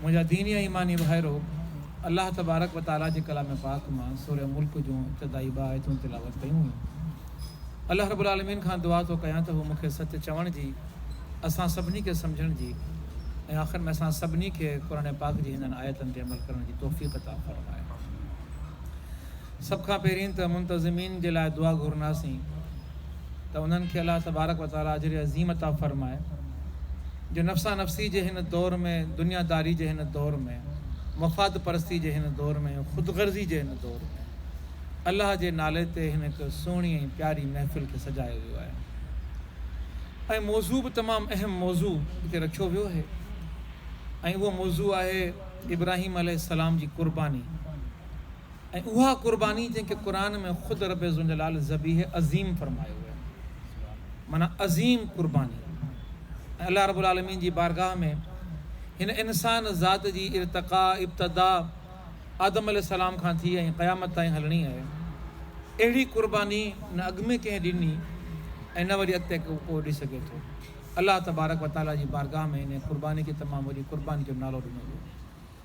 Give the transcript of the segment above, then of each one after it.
منهنجا ديني ۽ ايماني ڀائرو! الله تبارڪ و تعاليٰ جي ڪلام پاڪ مان سورة ملڪ جون ابتدائي ٻه آيتون تلاوت ڪيون ويون. الله رب العالمين کان دعا ٿو ڪيان ته هو مون کي سچ چوڻ جي، اسان سڀني کي سمجهڻ جي ۽ آخر ۾ اسان سڀني کي قرآن پاڪ جي هنن آيتن تي عمل ڪرڻ جي توفيق عطا فرمائي. سڀ کان پهرين ته منتظمين جي لاء دعا گهرنداسين. ته انهن کي الله تبارڪ و تعاليٰ اجر عظيم عطا فرمائي جو نفسا نفسي جي هن دور ۾ دنيا داري جي هن دور ۾ مفاد پرستي جي هن دور ۾ خود غرضي جي هن دور ۾ الله جي نالي تي هن هڪ سهڻي ۽ پياري محفل کي سجايو ويو آهي ۽ موضوع به تمام اهم موضوع هتي رکيو ويو آهي ۽ اهو موضوع آهي ابراهيم عليه السلام جي قرباني ۽ اها قرباني جنهن کي قرآن ۾ خود رب ذوالجلال ذبيح عظيم فرمايو ويو معنيٰ عظيم قرباني ۽ الله رب العالمين جي بارگاهه ۾ هن انسان ذات جي ارتقا ابتدا آدم عليه السلام کان ٿي ۽ قيامت تائين هلڻي آهي اهڙي قرباني نه اڳ ۾ ڪنهن ڏني ۽ نه وري اڳتي ڪو ڏي سگهي ٿو الله تبارڪ وتعاليٰ جي بارگاهه ۾ هن قرباني کي تمام وڏي قرباني جو نالو ڏنو ويو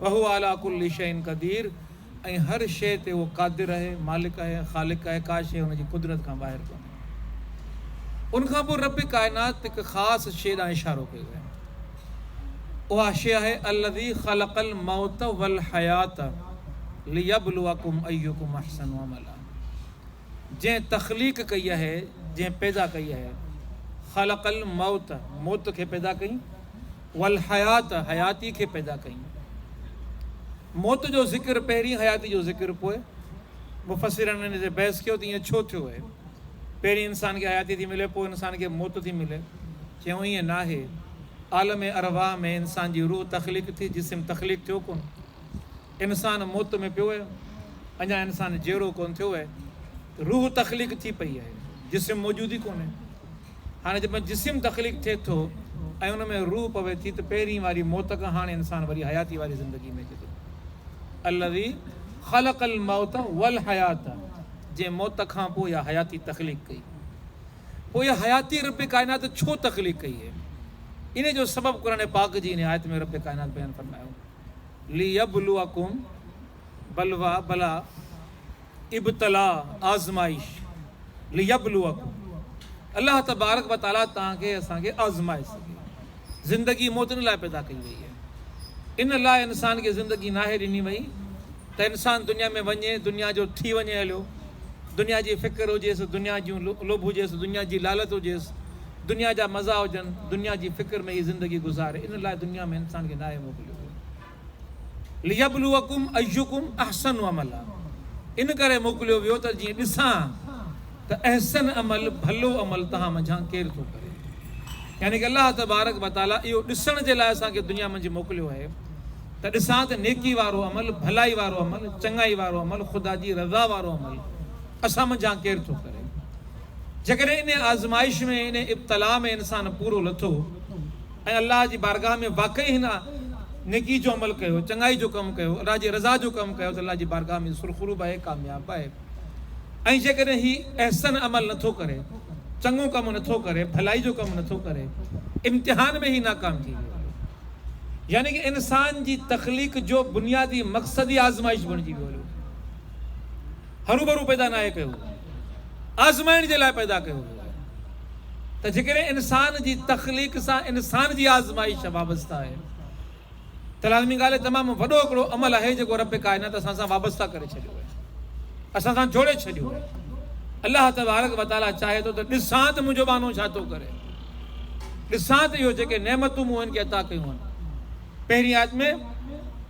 وهو علي ڪل شيء قدير ۽ هر شيء تي هو قادر اهي، مالڪ اهي، خالق اهي، ڪا شيء هن جي قدرت کان ٻاهر ڪونهي. ان کان پوء رب ڪائنات هڪ خاص شيء ڏانهن اشارو ڪيو آهي. اها شيء آهي الذي خلق الموت والحيات ليبلوڪم ايڪم احسن عملا جنهن تخليق ڪئي اهي، جنهن پيدا ڪئي اهي، خلق الموت موت کي پيدا ڪئي، والحيات، حياتي کي پيدا ڪيون. موت جو ذڪر پهرين حياتي جو ذڪر پوء. مفسرن ان تي بحث ڪيو ته ائين ڇو ٿيو اهي؟ پهرين انسان کي حياتي ٿي ملي پوء انسان کي موت ٿي ملي؟ چيائون ائين ناهي. عالم ارواح ۾ انسان جي روح تخليق ٿي جسم تخليق ٿيو ڪونه. انسان موت ۾ پيو اهي. اڃا انسان جيئرو ڪونه ٿيو اهي. روح تخليق ٿي پئي اهي. جسم موجود ئي ڪونهي. هاڻي جڏهن جسم تخليق ٿئي ٿو ۽ ان ۾ روح پوي ٿي ته پهرين واري موت کان هاڻي انسان وري حياتي واري زندگي ۾ اچي ٿو. الذي خلق الموت والحيات جنهن موت کان پوء اها حياتي تخليق ڪئي. پوء اها حياتي رب ڪائنات ڇو تخليق ڪئي اهي ان جو سبب قرآن پاڪ جي ان آيت ۾ رب ڪائنات بيان فرمايو ليبلوڪم. بلويٰ، بلا، ابتلاء، آزمائش، ليبلوکم، الله تبارڪ و تعاليٰ توهان کي اسان کي آزمائي سگهي. زندگي موت ان لاء پيدا ڪئي وئي آهي. ان لاء انسان کي زندگي ناهي ڏني وئي ته انسان دنيا ۾ وڃي، دنيا جو ٿي وڃي هليو، دنيا جي فڪر هجيس، دنيا جون لوڀ هجيس، دنيا جي لالت هجيس، دنيا جا مزا هجن، دنيا جي فڪر ۾ هي زندگي گذاري، ان لاء دنيا ۾ انسان کي ناهي موڪليو ويو. ليبلوکم ايھڪم احسن عملا ان ڪري موڪليو ويو ته جيئن ڏسان ته احسن عمل، ڀلو عمل، توھان منجھان ڪير ٿو ڪري. يعني ڪه الله تبارڪ و تعالي اھو ڏسڻ جي لاء اسان کي دنيا منجھ موڪليو آھي ته ڏسان ته نيڪي وارو عمل، ڀلائي وارو عمل، چڱائي وارو عمل، خدا جي رضا وارو عمل اسان منجھان ڪير ٿو ڪري. جيڪڏھن انھيء آزمائش ۾، انھيء ابتلاء ۾ انسان پورو لٿو. ۽ الله جي بارگاھ ۾ واقعي هن نيڪي جو عمل ڪيو، چڱائي جو ڪم ڪيو، الله جي رضا جو ڪم ڪيو ته الله جي بارگاھ ۾ سرخرو به آهي، ڪامياب به آهي ۽ جيڪڏهن هي احسن عمل نه ٿو ڪري، چڱو ڪم نه ٿو ڪري، ڀلائي جو ڪم نه ٿو ڪري، امتحان ۾ هي ناڪام ٿي ويو. يعني ڪه انسان جي تخليق جو بنيادي مقصد ئي آزمائش بڻجي ويو هيو. هروڀرو پيدا ناهي ڪيو ويو آهي، آزمائڻ جي لاء پيدا ڪيو ويو آهي ته جيڪڏهن انسان جي تخليق سان انسان جي آزمائش وابسته آهي ته لازمي ڳالهه آهي تمام وڏو هڪڙو عمل آهي جيڪو رب ڪائنات اسان سان وابسته ڪري ڇڏيو آهي اسان سان جوڙي ڇڏيو آهي الله تبارڪ وتعاليٰ چاهي ٿو ته ڏسان ته منهنجو ٻانهو ڇا ٿو ڪري ڏسان ته اهو جيڪي نعمتون مون هن کي عطا ڪيون آهن پهرين آيت ۾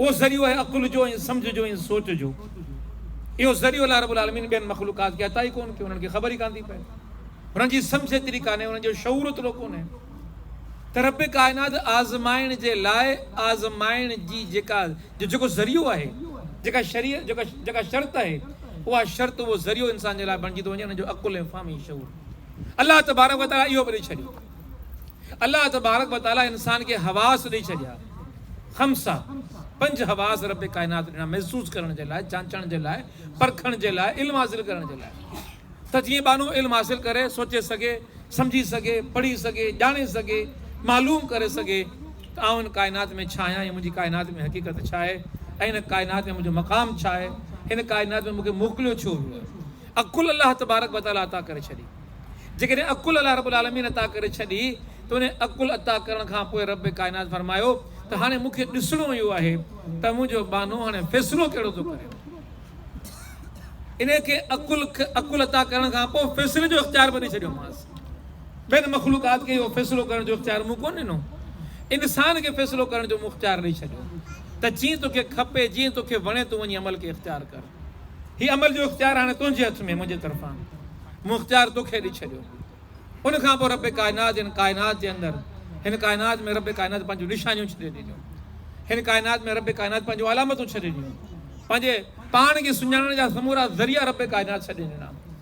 اهو ذريعو آهي عقل جو ۽ سمجهه جو ۽ سوچ جو. اهو ذريعو الله رب العالمين ٻين مخلوقات کي عطا ئي ڪونه ڪيو، انهن کي خبر ئي ڪانه ٿي پئي. انهن جي سمجهه ايتري ڪانهي، انهن جو شعور اوترو ڪونهي ته رب ڪائنات آزمائڻ جي لاء آزمائڻ جي جيڪا جو جيڪو ذريعو آهي، جيڪا شري جيڪا شرط آهي، اها شرط اهو ذريعو انسان جي لاء بڻجي ٿو وڃي، انهن جو عقل ۽ فهم ۽ شعور. الله تبارڪ وتعاليٰ اهو به ڏئي ڇڏيو. الله تبارڪ و تعاليٰ انسان کي حواس ڏئي ڇڏيا، خمسة، پنج حواس رب ڪائنات ڏنا محسوس ڪرڻ جي لاء، جانچڻ جي لاء، پرکڻ جي لاء، علم حاصل ڪرڻ جي لاء ته جيئن ٻانهو علم حاصل ڪري، سوچي سگهي، سمجهي سگهي، پڙهي سگهي، ڄاڻي سگهي، معلوم ڪري سگهي ته آئون هن ڪائنات ۾ ڇا آهيان ۽ منهنجي ڪائنات ۾ حقيقت ڇا آهي ۽ هن ڪائنات ۾ منهنجو مقام ڇا آهي، هن ڪائنات ۾ مون کي موڪليو ڇو ويو آهي. عقل الله تبارڪ و تعاليٰ عطا ڪري ڇڏي. جيڪڏهن عقل الله رب العالمين عطا ڪري ڇڏي ته ان عقل عطا ڪرڻ کان پوء رب ڪائنات فرمايو ته هاڻي مون کي ڏسڻو اهو آهي ته منهنجو ٻانهو هاڻي فيصلو ڪهڙو ٿو ڪري. ان کي عقل عقل عطا ڪرڻ کان پوء فيصلي جو اختيار به ڏئي ڇڏيومانس. ٻين مخلوقات کي اهو فيصلو ڪرڻ جو اختيار مون ڪونه ڏنو. انسان کي فيصلو ڪرڻ جو مون اختيار ڏئي ڇڏيو ته جيئن توکي کپي جيئن توکي وڻي تون وڃي عمل کي اختيار ڪر. هي عمل جو اختيار هاڻي تنهنجي هٿ ۾ منهنجي طرفان مون اختيار توکي ڏئي ڇڏيو ان کان پوء رب ڪائنات هن ڪائنات جي اندر هن ڪائنات ۾ رب ڪائنات پنهنجون نشانيون ڇڏي ڏنيون هن ڪائنات ۾ رب ڪائنات پنهنجون علامتون ڇڏي ڏنيون پنهنجي پاڻ کي سڃاڻڻ جا سمورا ذريعا رب ڪائنات ڇڏي ڏنا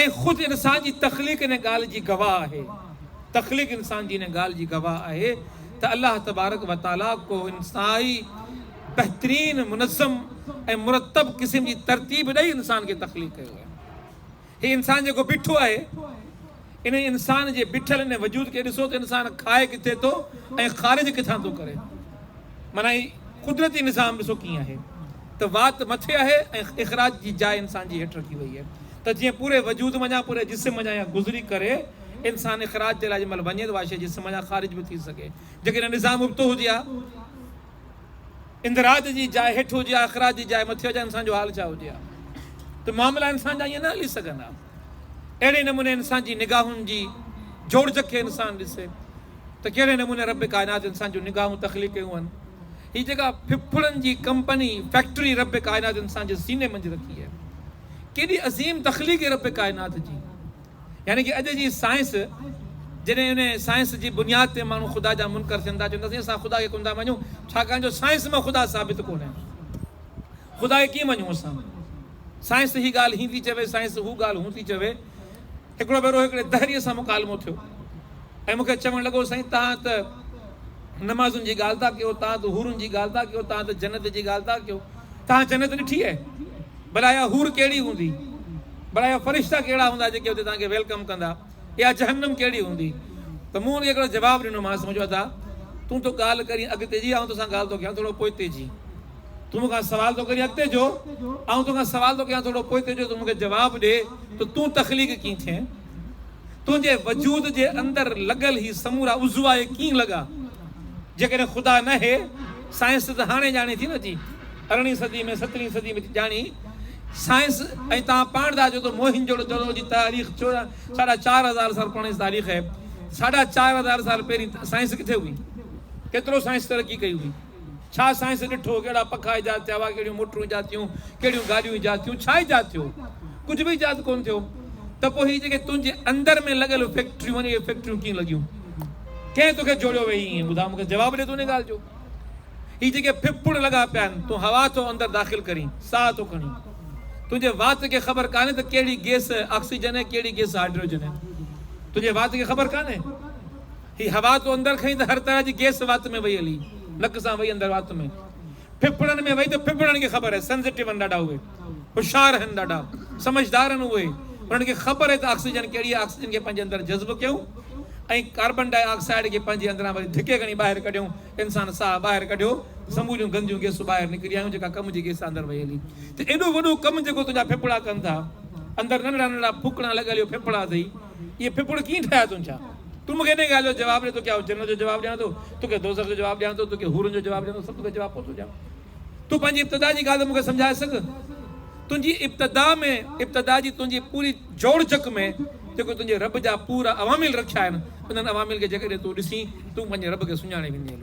۽ خود انسان جي تخليق ان ڳالهه جي گواهه آهي، تخليق انسان جي ان ڳالهه جي گواهه آهي ته الله تبارڪ و تعاليٰ ڪو انتهائي بهترين منظم ۽ مرتب قسم جي ترتيب ڏئي انسان کي تخليق ڪيو آهي. هي انسان جيڪو بيٺو آهي. انهيء انسان جي بيٺل انهيء وجود کي ڏسو ته انسان کائي ڪٿي ٿو ۽ خارج ڪٿان ٿو ڪري. معنيٰ هي قدرتي نظام ڏسو ڪيئن آهي ته وات مٿي آهي ۽ اخراج جي جاء انسان جي هيٺ رکي وئي آهي ته جيئن پوري وجود منجهان، پوري جسم منجهان يا گذري ڪري انسان اخراج جي لاء جنهن مهل وڃي ته اها شيء جسم منجهان خارج به ٿي سگهي. جيڪڏهن نظام ابتو هجي ها. اندراج جي جاء هيٺ هجي ها اخراج جي جاء مٿي هجي انسان جو حال ڇا هجي ها ته معاملا انسان جا ائين نه هلي سگهن ها اهڙي نموني انسان جي نگاهن جي جوڙجڪ کي انسان ڏسي ته ڪهڙي نموني رب ڪائنات انسان جون نگاهون تخليق ڪيون هن هي جيڪا ڦڦڙن جي ڪمپني فيڪٽري رب ڪائنات انسان جي سيني منجهه رکي هي ڪيڏي عظيم تخليق هي رب ڪائنات جي يعني ڪي اڄ جي سائنس جڏهن ان سائنس جي بنياد تي ماڻهو خدا جا منڪر ٿين ٿا چون ٿا سائين اسان خدا کي ڪونه ٿا مڃون ڇاڪاڻ جو سائنس مان خدا ثابت ڪونهي خدا کي ڪيئن مڃون اسان سائنس هي ڳالهه هي ٿي چوي سائنس هو ڳالهه هون ٿي چوي هڪڙو ڀيرو هڪڙي دهري سان مڪالمو ٿيو ۽ مونکي چوڻ لڳو سائين تان ته نمازن جي ڳالهه ٿا ڪيو تان ته هورن جي ڳالهه ٿا ڪيو تان ته جنت جي ڳالهه ٿا ڪيو تان جنت ڏٺي آهي ڀلا اها حور ڪهڙي هوندي؟ ڀلا اها فرشتا ڪهڙا هوندا جيڪي اتي توهان کي ويلڪم ڪندا؟ اها جهنم ڪهڙي هوندي؟ ته مون ان کي هڪڙو جواب ڏنومانس، مون چيو ادا! تون ٿو ڳالهه ڪرين اڳتي جي، آئون توسان ڳالهه ٿو ڪيان ٿورو پوئتي جي. تون مون کان سوال ٿو ڪرين اڳتي جو، آئون تو کان سوال ٿو ڪيان ٿورو پوئتي جو، تون مون کي جواب ڏي ته تون تخليق ڪيئن ٿئين؟ تنهنجي وجود جي اندر لڳل هي سمورا عضوا اهي ڪيئن لڳا؟ جيڪڏهن خدا ناهي، سائنس ته هاڻي ڄاڻي ٿي نه جي ارڙهين صدي ۾ سترهين صدي ۾ ڄاڻي سائنس ۽ توهان پاڻ ڌا جو ته موهن جوڙو دڙو جي تاريخ چوڏهن ساڍا چار هزار سال پراڻي تاريخ آهي ساڍا چار هزار سال پهرين سائنس ڪٿي هئي ڪيترو سائنس ترقي ڪئي هئي ڇا سائنس ڏٺو؟ ڪهڙا پکا ايجاد ٿيا هئا؟ ڪهڙيون موٽرون ايجاد ٿيون؟ ڪهڙيون گاڏيون ايجاد ٿيون؟ ڇا ايجاد ٿيو؟ ڪجهه به ايجاد ڪونه ٿيو. ته پوء هي جيڪي تنهنجي اندر ۾ لڳل فيڪٽريون آهن، اهي فيڪٽريون ڪيئن لڳيون؟ ڪنهن توکي جوڙيو ويهي ائين؟ ٻڌاء مون کي، جواب ڏي تون ان ڳالهه جو. هي جيڪي ڦڦڙ لڳا پيا آهن، تون هوا ٿو اندر داخل ڪرين، ساهه ٿو کڻين. تنهنجي وات کي خبر ڪانهي ته ڪهڙي گيس آڪسيجن آهي، ڪهڙي گيس هائڊروجن آهي. تنهنجي وات کي خبر ڪانهي. هي هوا تو اندر کنئي ته هر طرح جي گيس وات ۾ وئي هلي نڪ سان وئي اندر وات ۾ ڦڦڙن ۾ وئي ته ڦڦڙن کي خبر آهي سنزٽيو آهن ڏاڍا اهي هوشيار آهن ڏاڍا سمجهدار آهن اهي انهن کي خبر آهي ته آڪسيجن ڪهڙي آهي آڪسيجن کي پنهنجي اندر جذب ڪيون ۽ ڪاربن ڊاء آڪسائيڊ کي پنهنجي اندران وري ڌڪي کڻي ٻاهر ڪڍيون انسان ساهه ٻاهر ڪڍيو سموريون گنديون گيسون ٻاهر نڪري آيون جيڪا ڪم جي گيس اندر وئي هلي ته ايڏو وڏو ڪم جيڪو تنهنجا ڦڦڙا ڪن ٿا اندر ننڍڙا ننڍڙا ڦوڪڻا لڳل اهي ڦڦڙا اٿئي اهي ڦڦڙ ڪيئن ٺاهيا اٿن ڇا؟ تون مون کي انهيء ڳالهه جو جواب ڏي، توکي آئون جنت جو جواب ڏيان ٿو، توکي دوزخ جو جواب ڏيان ٿو، توکي حورن جو جواب ڏيان ٿو، سڀ توکي جواب ڪونه ٿو ڏيان. تون پنهنجي ابتدا جي ڳالهه ته مون کي سمجهائي سگهه. تنهنجي ابتدا ۾ ابتدا جي تنهنجي پوري جوڙجڪ ۾ جيڪو تنهنجي رب جا پورا عوامل رکيا آهن، انهن عوامل کي جيڪڏهن تون ڏسين، تون پنهنجي رب کي سڃاڻي ويندين.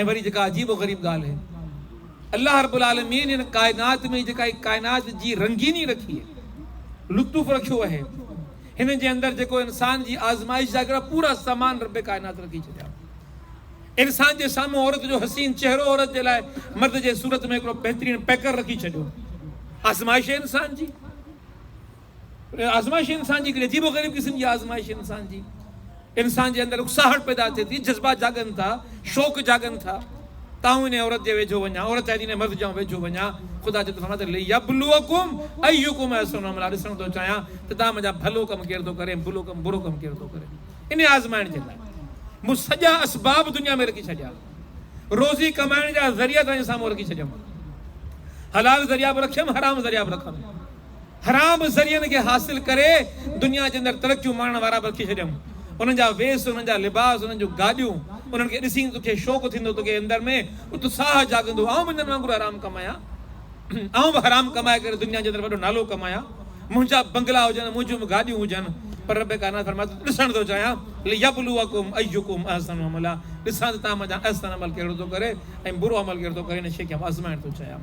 ۽ وري جيڪا عجيب و غريب ڳالهه اهي الله رب العالمين هن ڪائنات ۾ جيڪا هي ڪائنات جي رنگيني رکي اهي لطف رکيو اهي هن جي اندر جيڪو انسان جي آزمائش جا هڪڙا پورا سامان رب ڪائنات رکي ڇڏيا انسان جي سامهون عورت جو حسين چهرو عورت جي لاء مرد جي صورت ۾ هڪڙو بهترين پيڪر رکي ڇڏيو آزمائش انسان جي انهن آزمائشين انسان جي هڪڙي عجيب و غريب قسم جي آزمائش انسان جي انسان جي اندر اڪساهٽ پيدا ٿئي ٿي جذبا جاڳن ٿا شوق جاڳن ٿا ته آئون انهي عورت جي ويجهو وڃان عورت چاهي ٿي انهي مرد جي آئون ويجهو وڃان خدا چوي ٿو فرمايو ته ليبلوڪم ايڪم احسن عملا ڏسڻ ٿو چاهيان ته توهان منهنجا ڀلو ڪم ڪير ٿو ڪري بلو ڪم برو ڪم ڪير ٿو ڪري انهي آزمائڻ جي لاء مون سڄا اسباب دنيا ۾ رکي ڇڏيا روزي ڪمائڻ جا ذريعا توهان جي سامهون رکي ڇڏيم حلال ذريعا به رکيم حرام ذريعا به رکم حرام ذريعن کي حاصل ڪري دنيا جي اندر ترقيون ماڻڻ وارا به رکي ڇڏيائون. انهن جا ويس، انهن جا لباس، انهن جون گاڏيون، انهن کي ڏسي ته توکي شوق ٿيندو، توکي اندر ۾ اتساهه جاڳندو، آئون به انهن وانگر حرام ڪمايان، آئون به حرام ڪمائي ڪري دنيا جي اندر وڏو نالو ڪمايان، منهنجا به بنگلا هجن، منهنجون به گاڏيون هجن، پر رب ڪائنات فرمائي ٿو ته ڏسڻ ٿو چاهيان، ليبلوکم ايکم احسن عملا، ڏسان ته توهان منجهان احسن عمل ڪهڙو ٿو ڪري ۽ برو عمل ڪهڙو ٿو ڪري، ان شيء کي آئون آزمائڻ ٿو چاهيان.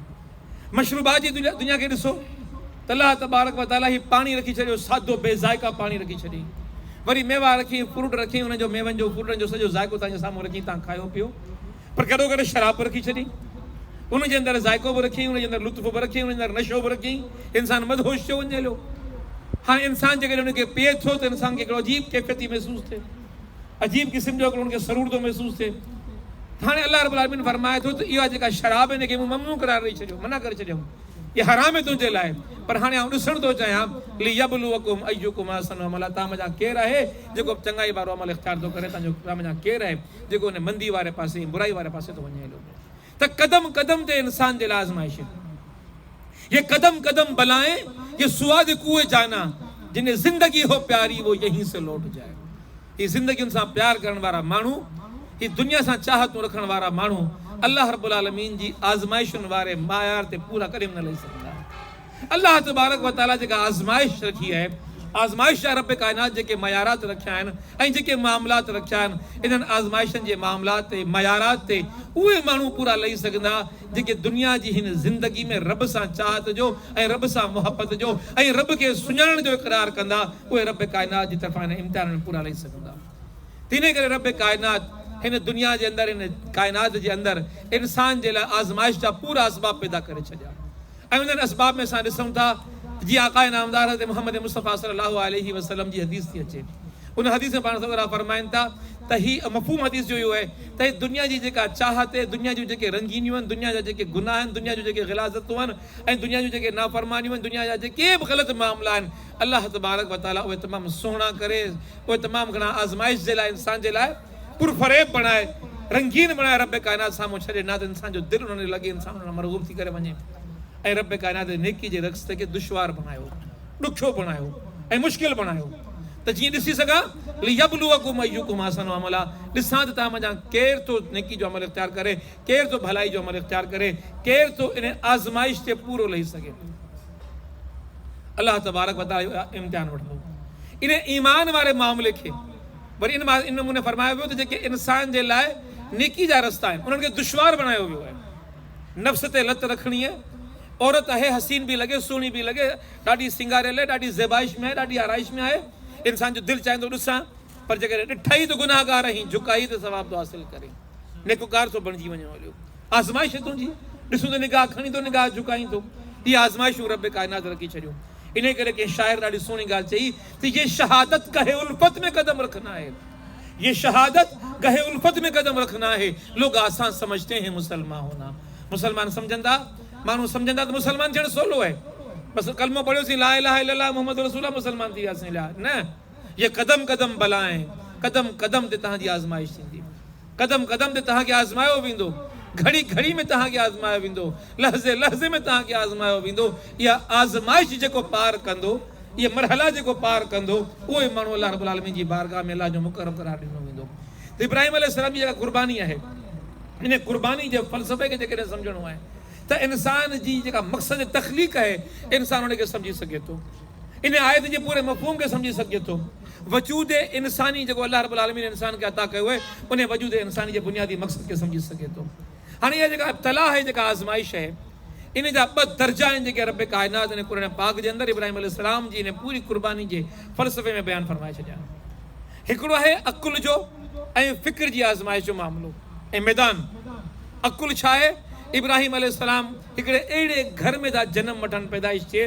مشروبات جي دنيا کي ڏسو ته الله تبارڪ و تعاليٰ هي پاڻي رکي ڇڏيو سادو بي ذائقه پاڻي رکي ڇڏيئين وري ميوا رکيئين فروٽ رکيئين انهن جو ميون جو فروٽن جو سڄو ذائقو تنهنجي سامهون رکيئين تان کايو پيئو پر گڏو گڏ شراب به رکي ڇڏيئين ان جي اندر ذائقو به رکيئين ان جي اندر لطف به رکيئين ان جي اندر نشو به رکيئين انسان مدهوش ٿيو وڃي هليو هاڻي انسان جيڪڏهن ان کي پيئي ٿو ته انسان کي هڪڙو عجيب ڪيفيت ٿي محسوس ٿئي عجيب قسم جو هڪڙو ان کي سرور ٿو محسوس ٿئي ته هاڻي الله رب العالمين فرمائي ٿو ته اها جيڪا شراب هن کي مون ممنوع قرار ڏئي ڇڏيو منع ڪري ڇڏيم اها حرام آهي تنهنجي لاء پر هاڻي آئون ڏسڻ ٿو چاهيان ليبلوڪم ايڪم احسن عملا توهان منجهان ڪير آهي جيڪو چڱائي وارو عمل اختيار ٿو ڪري توهان منجهان ڪير آهي جيڪو ان مندي واري پاسي ۽ برائي واري پاسي ٿو وڃي هليو ته قدم قدم تي انسان جي لاء آزمائشن يي قدم قدم بلائين يي سواد ڪوئي جانا جنھين زندگي ھو پياري وو يھين سي لوٽ جائي ھي زندگين سان پيار ڪرڻ وارا ماڻھو ھي دنيا سان چاھتون رکڻ وارا ماڻھو الله رب العالمين جي آزمائشن واري معيار تي پورا ڪڏھن به نه لھي سگھندا. الله تبارڪ و تعاليٰ جيڪا آزمائش رکي آهي، آزمائش آهي رب ڪائنات جيڪي معيارات رکيا آهن ۽ جيڪي معاملات رکيا آهن، انهن آزمائشن جي معاملات تي، معيارات تي اهي ماڻهو پورا لهي سگهندا جيڪي دنيا جي هن زندگي ۾ رب سان چاهت جو ۽ رب سان محبت جو ۽ رب کي سڃاڻڻ جو اقرار ڪندا اهي رب ڪائنات جي طرفان انهن امتحانن پورا لهي سگهندا تنهن ڪري رب ڪائنات هن دنيا جي اندر هن ڪائنات جي اندر انسان جي لاء آزمائش جا پورا اسباب پيدا ڪري ڇڏيا. ۽ انهن اسباب ۾ اسان ڏسون ٿا ته جيئن آقاء نامدار حضرت محمد مصطفيٰ صلي الله عليه وسلم جي حديث ٿي اچي ان حديث ۾ پاڻ سرڪار فرمائن ٿا ته هي مفهوم حديث جو اهو آهي ته هي دنيا جي جيڪا چاهت اهي دنيا جون جيڪي رنگينيون آهن دنيا جا جيڪي گناهه آهن دنيا جون جيڪي غلاظتون آهن ۽ دنيا جون جيڪي نافرمانيون آهن دنيا جا جيڪي به غلط معاملا آهن الله تبارڪ وتعاليٰ اهي تمام سهڻا ڪري اهي تمام گهڻا آزمائش جي لاء انسان جي لاء پر فريب بڻائي، رنگين بڻائي رب ڪائنات سامهون ڇڏي نه ته انسان جو دل انهن ڏي لڳي انسان انهن ڏانهن مرغوب ٿي ڪري وڃي ۽ رب ڪائنات نيڪي جي رسته کي دشوار بڻايو ڏکيو بڻايو ۽ مشڪل بڻايو ته جيئن ڏسي سگهان ليبلوڪم ايڪم احسن عملا ڏسان ته توهان منجهان ڪير ٿو نيڪي جو عمل اختيار ڪري ڪير ٿو ڀلائي جو عمل اختيار ڪري ڪير ٿو ان آزمائش تي پورو لهي سگهي الله تبارڪ وتعاليٰ امتحان وٺندو ان ايمان واري معاملي کي وري ان مان ان نموني فرمايو ويو ته جيڪي انسان جي لاء نيڪي جا رستا آهن انهن کي دشوار بڻايو ويو آهي. نفس تي لت رکڻيء، عورت اهي حسين به لڳي، سهڻي به لڳي، ڏاڍي سينگاريل آهي، ڏاڍي زيبائش ۾ آهي، ڏاڍي آرائش ۾ آهي، انسان جو دل چاهيندو ڏسان، پر جيڪڏهن ڏٺئي ته گنهگار آهين، جهڪائي ته ثواب ٿو حاصل ڪرين، نيڪوڪار ٿو بڻجي وڃين هليو آزمائش هي تنهنجي، ڏسون ته نگاهه کڻين ٿو نگاهه جهڪائين ٿو، اهي آزمائشون رب ڪائنات رکي ڇڏيون. انهيء ڪري ڪنهن شاعر ڏاڍي سهڻي ڳالهه چئي ته يي شهادت گهه الفت ۾ قدم رکنا هي يي شهادت گهه الفت ۾ قدم رکنا هي لوگ آسان سمجهتي هين مسلمان هونا مسلمان سمجهندا ماڻهو سمجهندا ته مسلمان ٿيڻ سولو آهي بس ڪلمو پڙهيو سين لا اله الا الله محمد رسول الله مسلمان ٿي وياسين نه يي قدم قدم بلائين قدم قدم تي توهان جي آزمائش ٿيندي. قدم قدم تي توهان کي آزمايو ويندو، گهڙي گهڙي ۾ توهان کي آزمايو ويندو، لحظي لحظي ۾ توهان کي آزمايو ويندو. اها آزمائش جيڪو پار ڪندو، اهي مرحلا جيڪو پار ڪندو، اهو ئي ماڻهو الله رب العالمين جي بارگاهه ۾ الله جو مقرب قرار ڏنو ويندو. ته ابراهيم عليه السلام جي جيڪا قرباني آهي، ان قرباني جي فلسفي کي جيڪڏهن سمجهڻو آهي ته انسان جي جيڪا مقصد تخليق آهي، انسان ان کي سمجهي سگهي ٿو. ان آيت جي پوري مفهوم کي سمجهي سگهجي ٿو. وجود انساني جيڪو الله رب العالمين انسان کي عطا ڪيو آهي انهي وجود انساني جي بنيادي مقصد کي سمجهي سگهي ٿو. هاڻي اها جيڪا ابتلاء آهي جيڪا آزمائش آهي انهي جا ٻه درجا آهن جيڪي رب ڪائنات انهي قرآن پاڪ جي اندر ابراهيم عليه السلام جي انهي پوري قرباني جي فلسفي ۾ بيان فرمائي ڇڏيا آهن. هڪڙو آهي عقل جو ۽ فڪر جي آزمائش جو معاملو ۽ ميدان. عقل ڇا آهي؟ ابراهيم عليه السلام. هڪڙي اهڙي گهر ۾ ٿا جنم وٺن، پيدائش ٿئي،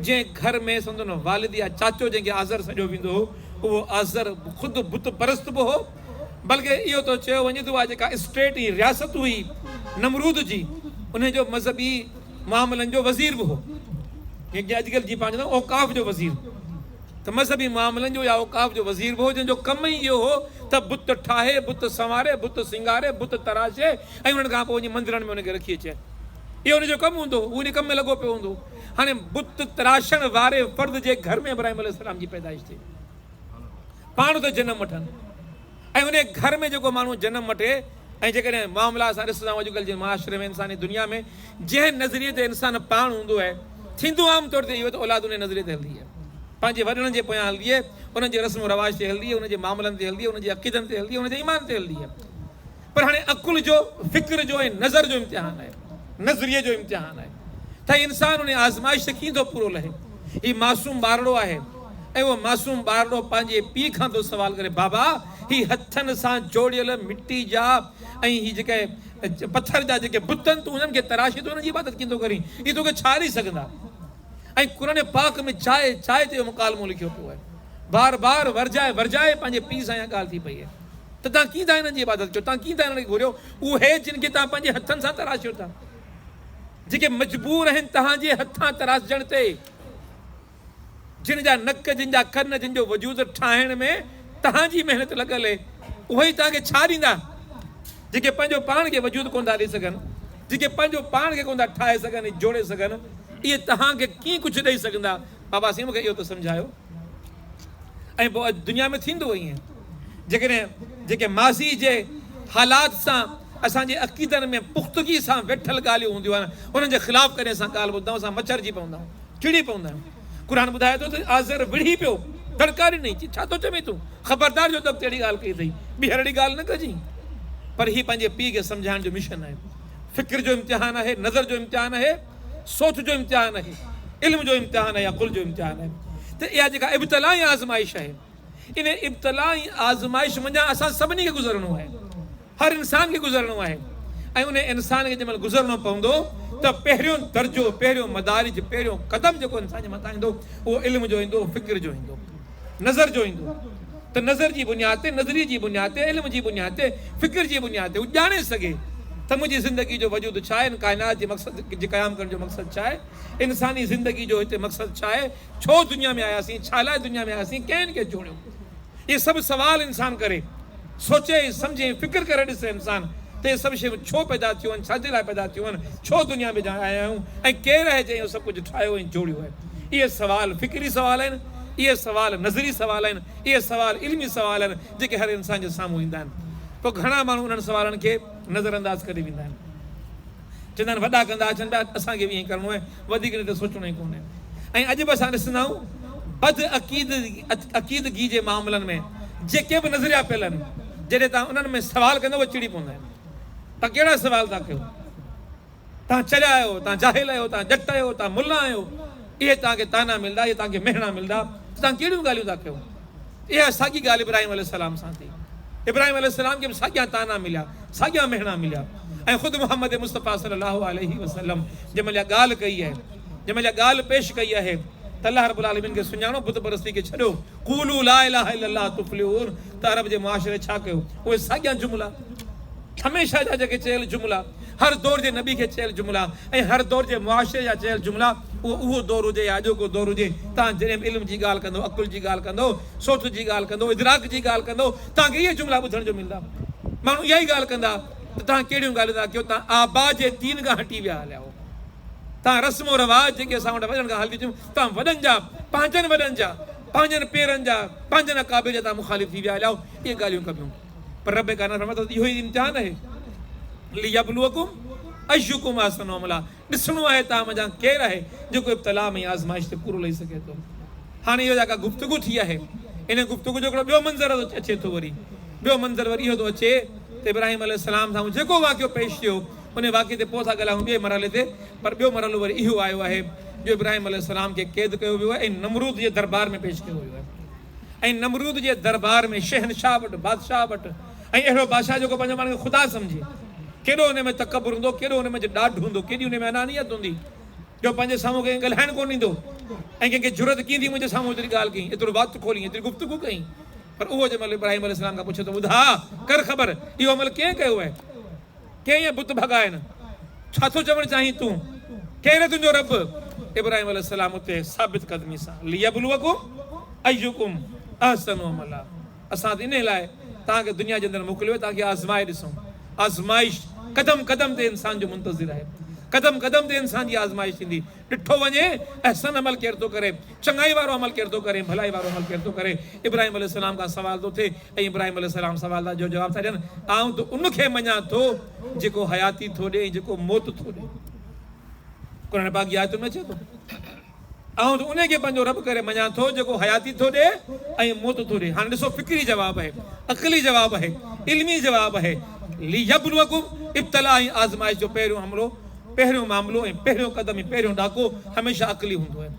جنهن گهر ۾ سندن والد يا چاچو جنهن کي آذر سڏيو ويندو هو، اهو آذر خود بت پرست به هو، بلڪ اهو ته چيو وڃي ٿو اها جيڪا اسٽيٽ هئي، رياست هئي نمرود جي، انهي جو مذهبي معاملن جو وزير به هو، جنهن کي اڄڪلهه جيئن پاڻ چوندا آهيون اوقاف جو وزير، ته مذهبي معاملن جو يا اوقاف جو وزير به هو، جنهن جو ڪم ئي اهو هو ته بت ٺاهي، بت سنواري، بت سينگاري، بت تراشي، ۽ انهن کان پوء وڃي مندرن ۾ ان کي رکي اچي. اهو ان جو ڪم هوندو هو. هو ان ڪم ۾ لڳو پيو هوندو هو. هاڻي بت تراشڻ واري فرد جي گهر ۾ ابراهيم عليه السلام جي پيدائش ٿئي. پاڻ ته جنم وٺن ۽ انهي گهر ۾ جيڪو ماڻهو جنم وٺي ۽ جيڪڏهن معاملا اسان ڏسندائون اڄڪلهه جي معاشري ۾ انساني دنيا ۾ جنهن نظريي تي انسان پاڻ هوندو آهي ٿيندو عام طور تي اهو ته اولاد انهي نظريي تي هلندي آهي. پنهنجي وڏڙن جي پويان هلندي آهي. انهن جي رسم و رواج تي هلندي آهي. انهن جي معاملن تي هلندي آهي. انهن جي عقيدن تي هلندي آهي. انهن جي ايمان تي هلندي آهي. پر هاڻي عقل جو، فڪر جو ۽ نظر جو امتحان آهي، نظريي جو امتحان آهي ته انسان انهي آزمائش کي ڪيئن ٿو پورو لهي. هي معصوم ٻارڙو آهي ۽ اهو معصوم ٻارڙو پنهنجي پيء کان ٿو سوال ڪري، بابا هي هٿن سان جوڙيل مٽي جا ۽ هي جيڪي پٿر جا جيڪي بت آهن، تون انهن کي تراشي ٿو انهن جي عبادت ڪيئن ٿو ڪرين؟ اهي تو کي ڇا ڏئي سگهندا؟ ۽ قرآن پاڪ ۾ جاء جاء تي اهو مڪالمو لکيو پيو آهي. بار بار ورجائي ورجائي پنهنجي پيء سان اها ڳالهه ٿي پئي آهي. ته توهان ڪيئن ٿا هنن جي عبادت ڪيو؟ توهان ڪيئن ٿا هنن کي گهوريو؟ اهي جن کي توهان پنهنجي هٿن سان تراشيو ٿا، جيڪي مجبور آهن توهان جي هٿان تراشجڻ تي، جن جا نڪ، جن جا ڪن، جن جو وجود ٺاهڻ ۾ توهان جي محنت لڳل اهي، اهي ئي توهان کي ڇا ڏيندا، جيڪي پنهنجو پاڻ کي وجود ڪونه ٿا ڏئي سگهن، جيڪي پنهنجو پاڻ کي ڪونه ٿا ٺاهي سگهن ۽ جوڙي سگهن، اهي توهان کي ڪيئن ڪجهه ڏئي سگهندا؟ بابا سائين مون کي اهو ته سمجهايو. ۽ پوء اڄ دنيا ۾ ٿيندو ائين. جيڪڏهن جيڪي ماضي جي حالات سان اسان جي عقيدن ۾ پختگي سان ويٺل ڳالهيون هونديون آهن انهن جي خلاف ڪڏهن اسان ڳالهه ٻڌندا آهيون اسان مچرجي پوندا آهيون چڙي پوندا آهيون قرآن ٻڌائي ٿو ته آزر وڙهي پيو دڙڪا ڏني چي ڇا ٿو چوين تون خبردار جو تڪ اهڙي ڳالهه ڪئي اٿئي ٻيهر اهڙي ڳالهه نه ڪجي پر هي پنهنجي پيء کي سمجهائڻ جو مشن آهي فڪر جو امتحان آهي نظر جو امتحان آهي سوچ جو امتحان آهي، علم جو امتحان آهي يا قل جو امتحان آهي ته اها جيڪا ابتلا ۽ آزمائش آهي ان ابتلا ۽ آزمائش منجهان اسان سڀني کي گذرڻو آهي هر انسان کي گذرڻو آهي ۽ ان انسان کي جنهن مهل گذرڻو پوندو ته پهريون درجو پهريون مدارج پهريون قدم جيڪو انسان جي مٿان ايندو اهو علم جو ايندو فڪر جو ايندو نظر جو ايندو ته نظر جي بنياد تي، نظريي جي بنياد تي، علم جي بنياد تي، فڪر جي بنياد تي هو ڄاڻي سگهي ته منهنجي زندگي جو وجود ڇا آهي، هن ڪائنات جي مقصد جي قيام ڪرڻ جو مقصد ڇا آهي، انساني زندگي جو هتي مقصد ڇا آهي، ڇو دنيا ۾ آياسين، ڇا لاء دنيا ۾ آياسين، ڪنهن هن کي جوڙيو. اهي سڀ سوال انسان ڪري. سوچي ۽ سمجهي ۽ فڪر ڪري ڏسي انسان ته اهي سڀ شيون ڇو پيدا ٿيون آهن، ڇا جي لاء پيدا ٿيون آهن، ڇو دنيا ۾ آيا آهيون ۽ ڪير آهي جنهن اهو سڀ ڪجهه ٺاهيو ۽ جوڙيو آهي. اهي سوال فڪري سوال آهن، اهي سوال نظري سوال آهن، اهي سوال علمي سوال آهن جيڪي هر انسان جي سامهون ايندا آهن. پوء گهڻا ماڻهو انهن سوالن کي نظرانداز ڪري ويندا آهن. چوندا آهن وڏا ڪندا اچن پيا اسان کي به ائين ڪرڻو آهي وڌيڪ نه ته سوچڻو ئي ڪونهي ۽ اڄ به اسان ڏسندا آهيون بد عقيد عقيدگي جي معاملن ۾ جيڪي به نظريا پيل آهن جڏهن تان انهن ۾ سوال ڪندا اهي چڙي پوندا آهن تان ڪهڙا سوال تان ڪيو تان چريا آهيو تان جاهل آهيو تان ڄٽ آهيو تان ملا آهيو اهي تان کي تانا ملدا اهي تان کي مهڻا ملدا تان ڪهڙيون ڳالهيون تان ڪيو اها ساڳي ڳالهه ابراهيم عليه السلام سان ٿي. ابراهيم عليه السلام کي به ساڳيا طعنا مليا، ساڳيا مهڻا مليا ۽ خود محمد مصطفيٰ صلي الله عليه وسلم جنهن مهل اها ڳالهه ڪئي آهي، جنهن مهل اها ڳالهه پيش ڪئي آهي ته الله رب العالمين کي سڃاڻو، بت پرستي کي ڇڏيو، قولوا لا اله الا الله تفلحون ته عرب جي معاشري ڇا ڪيو؟ اهي ساڳيا جملا، هميشه جا جيڪي چيل جملا. هر دور جي نبي کي چيل جملا ۽ هر دور جي معاشري جا چيل جملا اهو اهو دور هجي يا اڄوڪو دور هجي تان جڏهن به علم جي ڳالهه ڪندو عقل جي ڳالهه ڪندو سوچ جي ڳالهه ڪندو ادراڪ جي ڳالهه ڪندو تان کي اهي جملا ٻڌڻ جو ملندا ماڻهو اها ئي ڳالهه ڪندا ته تان ڪهڙيون ڳالهيون ٿا ڪيو تان آبا جي دين کان هٽي ويا هليا هو تان رسم و رواج جيڪي اسان وٽ وڏن کان هلنديون ٿيون تان وڏن جا پنهنجن وڏن جا پنهنجن پيرن جا پنهنجن اڪابر جا تان مخالف ٿي ويا هليا هو اهي ڳالهيون ڪبيون پربيگانه فرمائي ٿو ته اهو ئي امتحان آهي، ليبلوڪم ايّڪم احسن عملا، ڏسڻو آهي ته اوهان منجهان ڪير آهي جيڪو ابتلاء ۾ آزمائش تي پورو لهي سگهي ٿو. هاڻي اهو جا ڪا گفتگو ٿي آهي ان گفتگو جو هڪڙو ٻيو منظر اچي ٿو وري ٻيو منظر وري اهو ٿو اچي ته ابراهيم عليه السلام سامهون جيڪو واقعو پيش ٿيو ان واقعي تي پوء ٿا ڳالهائون ٻئي مرحلي تي پر ٻيو مرحلو وري اهو آيو آهي جو ابراهيم عليه السلام کي قيد ڪيو ويو آهي ۽ نمرود جي دربار ۾ پيش ڪيو ويو آهي. ۽ نمرود جي دربار ۾ شهنشاهه وٽ بادشاهه وٽ ۽ اهڙو بادشاهه جيڪو پنهنجو پاڻ کي خدا سمجهي. ڪيڏو ان ۾ تڪبر هوندو، ڪيڏو ان منجهه ڏاڍ هوندو، ڪيڏي ان ۾ انانيت هوندي جو پنهنجي سامهون ڪنهن کي ڳالهائڻ ڪونه ڏيندو ۽ ڪنهن کي جرئت ڪيئن ٿي منهنجي سامهون ايتري ڳالهه ڪئين، ايترو وات کولين، ايتري گفتگو ڪئين. پر اهو جنهن مهل ابراهيم عليه السلام کان پڇي ٿو ٻڌاء، ڪر خبر، اهو عمل ڪنهن ڪيو آهي؟ ڪيئن اهي بت ڀڳائين؟ ڇا ٿو چوڻ چاهين تون؟ ڪير آهي تنهنجو رب؟ ابراهيم عليه السلام اتي ثابت قدمي سان ليبلوڪم ايڪم احسن عملا اسان ته انهي لاء توهان کي دنيا جي اندر موڪليو آهي توهان کي آزمائي ڏسون. آزمائش قدم قدم تي انسان جو منتظر آهي. قدم قدم تي انسان جي آزمائش ٿيندي. ڏٺو وڃي احسن عمل ڪير ٿو ڪري، چڱائي وارو عمل ڪير ٿو ڪري، ڀلائي وارو عمل ڪير ٿو ڪري. ابراهيم عليه السلام کان سوال ٿو ٿئي ۽ ابراهيم عليه السلام سوالن جو جواب ٿا ڏين، آئون ته ان کي مڃان ٿو جيڪو حياتي ٿو ڏئي ۽ جيڪو موت ٿو ڏئي. قرآن پاڪ جي آيتن ۾ اچي ٿو، آئون ته انهي کي پنهنجو رب ڪري مڃان ٿو جيڪو حياتي ٿو ڏئي ۽ موت ٿو ڏئي. هاڻي ڏسو فڪري جواب اهي، عقلي جواب اهي، علمي جواب اهي، ليبلوڪم ابتلاء ۽ آزمائش جو پهريون حملو، پهريون معاملو ۽ پهريون قدم ۽ پهريون ڏاڪو هميشه عقلي هوندو آهي.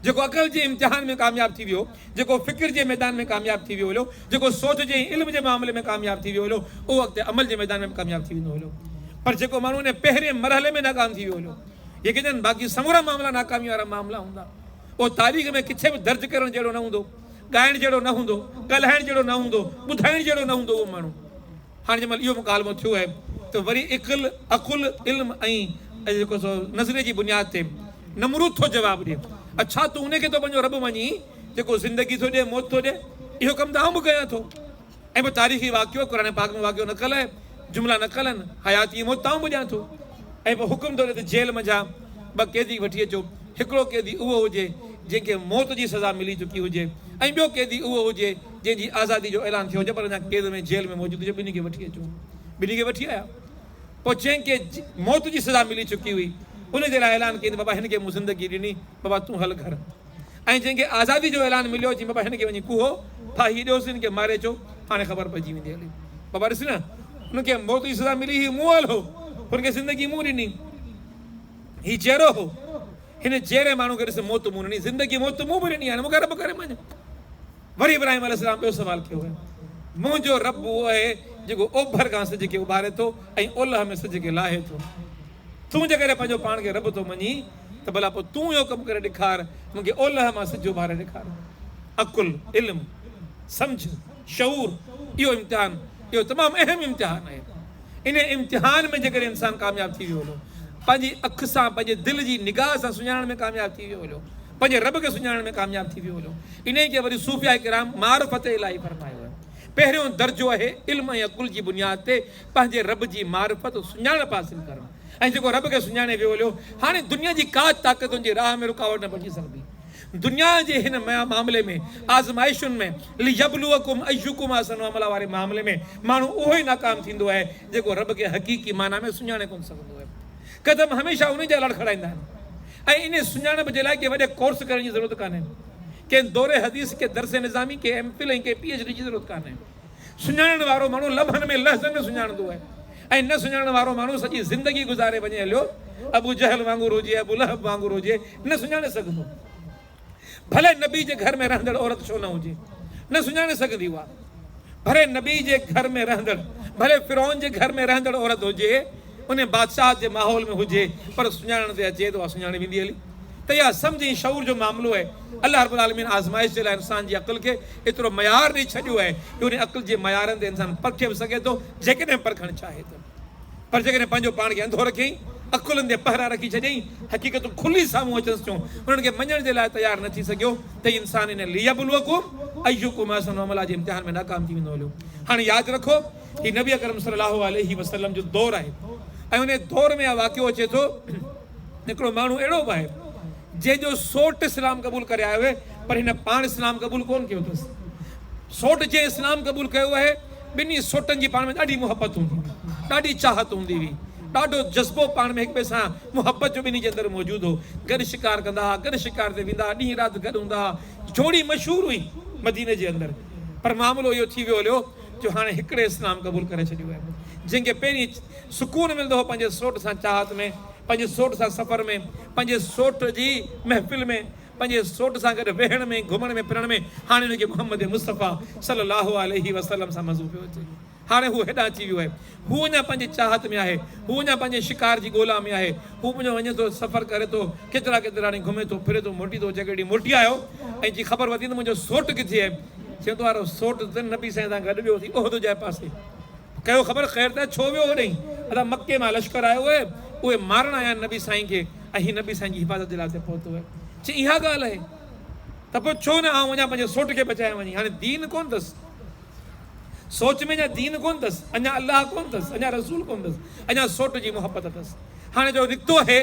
جيڪو عقل جي امتحان ۾ ڪامياب ٿي ويو. جيڪو فڪر جي ميدان ۾ ڪامياب ٿي ويو هليو، جيڪو سوچ جي ۽ علم جي معاملي ۾ ڪامياب ٿي ويو هليو، اهو اڳتي عمل جي ميدان ۾ به ڪامياب ٿي ويندو هليو. پر جيڪو ماڻهو انهيء پهرئين مرحلي ۾ ناڪام ٿي ويو هليو، يقينن باقي سمورا معاملا ناڪاميء وارا معاملا هوندا. اهو تاريخ ۾ ڪٿي به درج ڪرڻ جهڙو نه هوندو، ڳائڻ جهڙو نه هوندو، ڳالهائڻ جهڙو نه هوندو، ٻڌائڻ جهڙو نه هوندو اهو ماڻهو. هاڻي جنهن مهل اهو مڪالمو ٿيو آهي ته وري عقل، عقل، علم ۽ جيڪو سو نظريي جي بنياد تي نمرود ٿو جواب ڏي. اڇا تون ان کي ٿو پنهنجو رب مڃين جيڪو زندگي ٿو ڏئي، موت ٿو ڏئي؟ اهو ڪم ته آئون به ڪيان ٿو. ۽ پوء تاريخي واقعو، قرآن پاڪ ۾ واقعو نقل آهي، جملا نقل آهن، حياتي ۽ موت ته آئون به ڏيان ٿو. ۽ پوء حڪم ٿو ڏئي ته جيل منجهان ٻه قيدي وٺي اچو، هڪڙو قيدي اهو هجي جنهن کي موت جي سزا ملي چڪي هجي ۽ ٻيو قيدي اهو هجي، جنهن جي آزادي جو اعلان ٿيو هجي پر اڃا قيد ۾ جيل ۾ موجود هجي ٻنهي کي وٺي اچو ٻنهي کي وٺي آيا پوء جنهن کي موت جي سزا ملي چڪي هئي ان جي لاء اعلان ڪيائين ته بابا هن کي مون زندگي ڏني بابا تون هل گهر ۽ جنهن کي آزادي جو اعلان مليو چيائين بابا هن کي وڃي ڪوهو ڦاهي ڏيوس هن کي ماري اچو هاڻي خبر پئجي ويندي هلي بابا ڏس نه ان کي موت جي سزا ملي هي مون هل هو هن کي زندگي مون ڏني هي جيرو هو هن جيري ماڻهو کي ڏس موت مون ڏني زندگي موت مون به ڏني هاڻي مون کي رب ڪري مڃ وري ابراهيم عليه السلام ٻيو سوال ڪيو ۽ منهنجو رب اهو آهي جيڪو اوڀر کان سج کي اڀاري ٿو ۽ اولهه ۾ سج کي لاهي ٿو. تون جيڪڏهن پنهنجو پاڻ کي رب ٿو مڃين ته ڀلا پوء تون اهو ڪم ڪري ڏيکار مون کي اولهه مان سج اڀاري ڏيکار. عقل، علم، سمجهه، شعور، اهو امتحان اهو تمام اهم امتحان آهي. انهيء امتحان ۾ جيڪڏهن انسان ڪامياب ٿي ويو هليو، پنهنجي اک سان پنهنجي دل جي نگاهه سان سڃاڻڻ ۾ ڪامياب ٿي ويو هليو، پنهنجي رب کي سڃاڻڻ ۾ ڪامياب ٿي ويو هجو انهي کي وري صوفياء ڪرام معرفت الٰهي فرمايو آهي پهريون درجو اهي علم ۽ عقل جي بنياد تي پنهنجي رب جي معرفت سڃاڻپ حاصل ڪرڻ ۽ جيڪو رب کي سڃاڻي ويو هليو هاڻي دنيا جي ڪا طاقت ان جي راهه ۾ رڪاوٽ نه بڻجي سگهندي دنيا جي هن معاملي ۾ آزمائشن ۾ ليبلوڪم ايڪم احسن عملا واري معاملي ۾ ماڻهو اهو ئي ناڪام ٿيندو آهي جيڪو رب کي حقيقي معنيٰ ۾ سڃاڻي ڪونه سگهندو آهي قدم هميشه انهي جا لڙکڙائيندا آهن ۽ انهي سڃاڻپ جي لاء ڪي وڏي ڪورس ڪرڻ جي ضرورت ڪانهي. ڪنهن دوري حديث، ڪنهن درس نظامي، ڪنهن ايم فل ۽ ڪنهن پي ايڇ ڊي جي ضرورت ڪانهي. سڃاڻڻ وارو ماڻهو لمحن ۾ لحظن ۾ سڃاڻندو آهي ۽ نه سڃاڻڻ وارو ماڻهو سڄي زندگي گذاري وڃي هليو ابو جهل وانگر هجي ابو لهب وانگر هجي نه سڃاڻي سگهندو. ڀلي نبي جي گهر ۾ رهندڙ عورت ڇو نه هجي، نه سڃاڻي سگهندي هئا. ڀلي نبي جي گهر ۾ رهندڙ، ڀلي فرعون جي گهر ۾ رهندڙ عورت هجي، انهي بادشاهت جي ماحول ۾ هجي، پر سڃاڻڻ تي اچي ته اها سڃاڻي ويندي هلي. ته اها سمجهه ۽ شعور جو معاملو آهي. الله رب العالمين آزمائش جي لاء انسان جي عقل کي ايترو معيار ڏئي ڇڏيو آهي جو انهي عقل جي معيارن تي انسان پرکي به سگهي ٿو، جيڪڏهن پرکڻ چاهي ته. پر جيڪڏهن پنهنجو پاڻ کي انڌو رکين، عقلن تي پهرا رکي ڇڏيائين، حقيقتون کلي سامهون اچنس ٿيون، انهن کي مڃڻ جي لاء تيار نه ٿي سگهيو ته هي انسان ان ليبلوڪم ايڪم احسن عملا جي امتحان ۾ ناڪام ٿي ويندو هليو. هاڻي ياد رکو، هي نبي اڪرم صلي الله عليه وسلم جو دور آهي ۽ انهيء دور ۾ اهو واقعو اچي ٿو، هڪڙو ماڻهو اهڙو به آهي، جنهن جو سوٽ اسلام قبول ڪري آيو آهي، پر هن پاڻ اسلام قبول ڪونه ڪيو اٿس. سوٽ جنهن اسلام قبول ڪيو آهي، ٻنهي سوٽن جي پاڻ ۾ ڏاڍي محبت هوندي هئي، ڏاڍي چاهت هوندي هئي، ڏاڍو جذبو پاڻ ۾ هڪٻئي سان محبت جو ٻنهي جي اندر موجود هو. گڏ شڪار ڪندا هئا، گڏ شڪار تي ويندا هئا، ڏينهن رات گڏ هوندا هئا، جوڙي مشهور هئي مديني جي اندر، پر معاملو اهو ٿي ويو هليو، جو هاڻي هڪڙي اسلام قبول ڪري ڇڏيو آهي جنهن کي پهرين سڪون ملندو هو پنهنجي سوٽ سان چاهت ۾ پنهنجي سوٽ سان سفر ۾ پنهنجي سوٽ جي محفل ۾ پنهنجي سوٽ سان گڏ ويهڻ ۾ گهمڻ ۾ ڦرڻ ۾ هاڻي هن کي محمد مصطفيٰ صلي الله عليه وسلم سان مزو پيو اچي هاڻي هو هيڏانهن اچي ويو آهي هو اڃا پنهنجي چاهت ۾ آهي. هو اڃا پنهنجي شڪار جي ڳولا ۾ آهي. هو پنهنجو وڃي ٿو، سفر ڪري ٿو، ڪيترا ڪيترا ڏينهن گهمي ٿو، ڦري ٿو، موٽي ٿو. جيڪڏهن موٽي آيو ۽ جي خبر ورتي ته منهنجو سوٽ ڪٿي آهي؟ چئي ٿو آره سوٽ ته نبي سائين سان گڏ ويو اٿئي احد جي پاسي. ڪيو خبر خير ته ڇو ويو هوڏئين؟ ادا مڪي مان لشڪر آيو اهي، اهي مارڻ آيا آهن نبي سائين کي ۽ هي نبي سائين جي حفاظت جي لاء هتي پهتو اهي. چئي اها ڳالهه اهي ته پوء ڇو نه آئون وڃان پنهنجي سوٽ کي بچايان وڃي. هاڻي دين ڪونه اٿس. سوچ ۾ اڃا دين ڪونه اٿس، اڃا الله ڪونه اٿس، اڃا رسول ڪونه اٿس، اڃا سوٽ جي محبت اٿس. هاڻي جو نڪتو اهي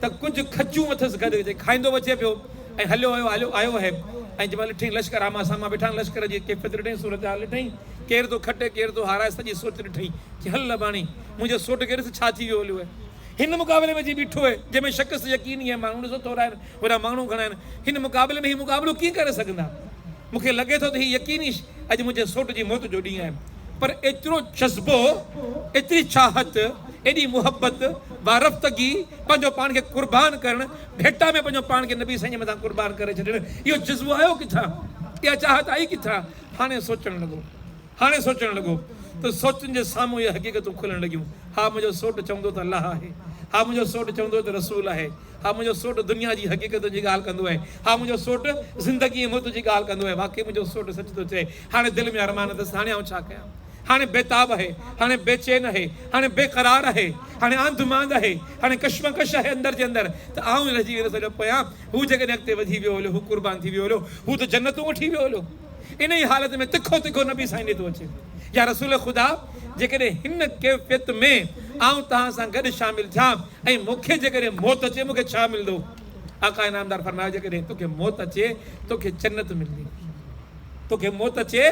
ته ڪجهه کچون اٿس گڏ جي کائيندو به اچي پيو ۽ هليو ويو هليو آيو اهي ۽ جي مهل ڏٺئين لشڪر آمهون سامهون بيٺا لشڪر جي ڪيفيت ڏٺئين صورتحال ڏٺئين ڪير ٿو کٽي ڪير ٿو هارائي سڄي سوچ ڏٺئين چي هل لباڻي منهنجي سوٽ کي ڏس ڇا ٿي ويو هليو اهي هن مقابلي ۾ جي بيٺو اهي جنهن ۾ شڪست يقيني اهي ماڻهو ڏسو ٿورا آهن وڏا ماڻهو گهڻا آهن هن مقابلي ۾ هي مقابلو ڪيئن ڪري سگهندا. مون کي لڳي ٿو ته هي يقيني اڄ منهنجي سوٽ جي موت جو ڏينهن آهي، پر ايترو جذبو، ايتري چاهت، ايڏي محبت، وارفتگي، پنهنجو پاڻ کي قربان ڪرڻ، ڀيٽا ۾ پنهنجو پاڻ کي نبي سائين جي مٿان قربان ڪري ڇڏڻ، اهو جذبو آيو ڪٿان؟ اها چاهت آئي ڪٿان؟ هاڻي سوچڻ لڳو. هاڻي سوچڻ لڳو ته سوچن جي سامهون اهي حقيقتون کلڻ لڳيون، ها منهنجو سوٽ چوندو ته الله آهي، ها منهنجو سوٽ چوندو ته رسول آهي، ها منهنجو سوٽ دنيا جي حقيقتن جي ڳالهه ڪندو آهي، ها منهنجو سوٽ زندگي ۽ موت جي ڳالهه ڪندو آهي، واقعي منهنجو سوٽ سچ ٿو چئي، هاڻي دل ۾ ارمان اٿس ته هاڻي آئون ڇا ڪيان؟ هاڻي بيتاب آهي، هاڻي بي چين آهي، هاڻي بي قرار آهي، هاڻي آنڌ مانڌ آهي، هاڻي ڪشمڪش آهي اندر جي اندر ته آئون ئي رهجي ويندس هليو پويان، هو جيڪڏهن اڳتي وڌي ويو هليو، هو قربان ٿي ويو هليو، هو ته جنتون وٺي ويو هليو. انهيء حالت ۾ تکو تکو نبي سائين ڏي ٿو اچي. يا رسول خدا! جيڪڏهن هن ڪيفيت ۾ آئون توهان سان گڏ شامل ٿيان ۽ مون کي جيڪڏهن موت اچي مون کي ڇا ملندو؟ آقا انعامدار فرمايو جيڪڏهن تو کي موت اچي تو کي جنت ملندي. تو کي موت اچي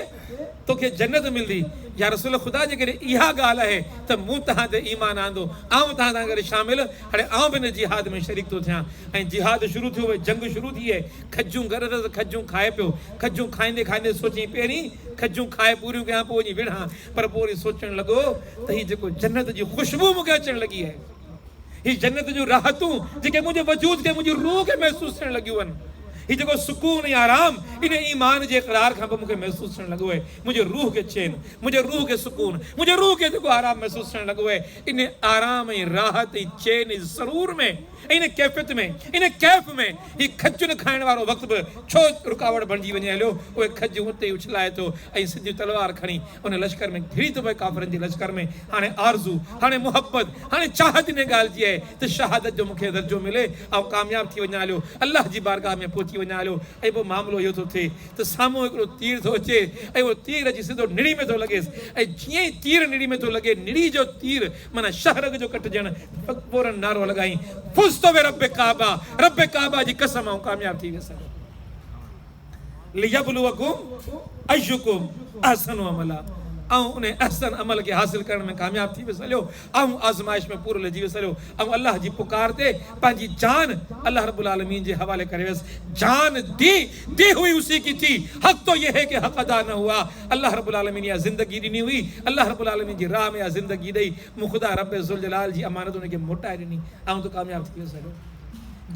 تو کي جنت ملندي. يا رسول خدا! جيڪڏهن اها ڳالهه آهي ته مون توهان تي ايمان آندو، آئون توهان سان گڏ شامل، هاڻي آئون به ان جهاد ۾ شريڪ ٿو ٿيان. ۽ جهاد شروع ٿيو وئي، جنگ شروع ٿي وئي. کجون گڏ اٿس ته کجون کائي پيو. کجون کائيندي کائيندي سوچيائين پهرين کجون کائي پوريون ڪيان پوء وڃي وڙهان. پر پوء وري سوچڻ لڳو ته هي جيڪو جنت جي خوشبو مون کي اچڻ لڳي آهي. هي جنت جون راحتون جيڪي منهنجي وجود کي منهنجي روح کي محسوس ٿيڻ لڳيون آهن. هي جيڪو سڪون ۽ آرام ان ايمان جي اقرار کان پوء مون کي محسوس ٿيڻ لڳو آهي. منهنجي روح کي چين، منهنجي روح کي سڪون، منهنجي روح کي جيڪو آرام محسوس ٿيڻ لڳو آهي ان آرام ۽ راحت ۽ چين ۽ سرور ۾ ان ڪيفيت ۾، ان ڪيف ۾، هي کجن کائڻ وارو وقت به ڇو رڪاوٽ بڻجي وڃي هليو؟ اهي کجون اتي ئي اڇلائي ٿو ۽ سڌيون تلوار کڻي ان لشڪر ۾ گهڙي ٿو پوي، ڪافرن جي لشڪر ۾ هاڻي آرزو، هاڻي محبت، هاڻي چاهت انهيء ڳالهه جي آهي ته شهادت جو مون کي درجو ملي، آئون ڪامياب ٿي وڃان هليو، الله جي بارگاهه ۾ پهچي وڃان هليو ۽ پوء معاملو اهو ٿو ٿئي ته سامهون هڪڙو تير ٿو اچي ۽ اهو تير اچي سڌو نڙي ۾ ٿو لڳيس ۽ جيئن ئي تير نڙي ۾ ٿو لڳي، نڙي جو تير معنيٰ شهر اڳ جو ڪٽجڻ پورن نعرو لڳائي فزت برب ڪعبه رب ڪعبه جي قسم آئون ڪامياب ٿي ويس ليبلوکم ايکم احسن عملا آئون ان احسن عمل کي حاصل ڪرڻ ۾ ڪامياب ٿي ويس هليو آئون آزمائش ۾ پورو لجي ويس هليو آئون الله جي پڪار تي پنهنجي جان الله رب العالمين جي حوالي ڪري ويس جان دي ڪي هئي اسي ڪي ٿي حق تو يه هي ڪي حق ادا نه هئا الله رب العالمين اها زندگي ڏني هئي الله رب العالمين جي راهه ۾ اها زندگي ڏئي مون خدا رب ذوالجلال جي امانت ان کي موٽائي ڏني آئون ته ڪامياب ٿي ويس هيڏو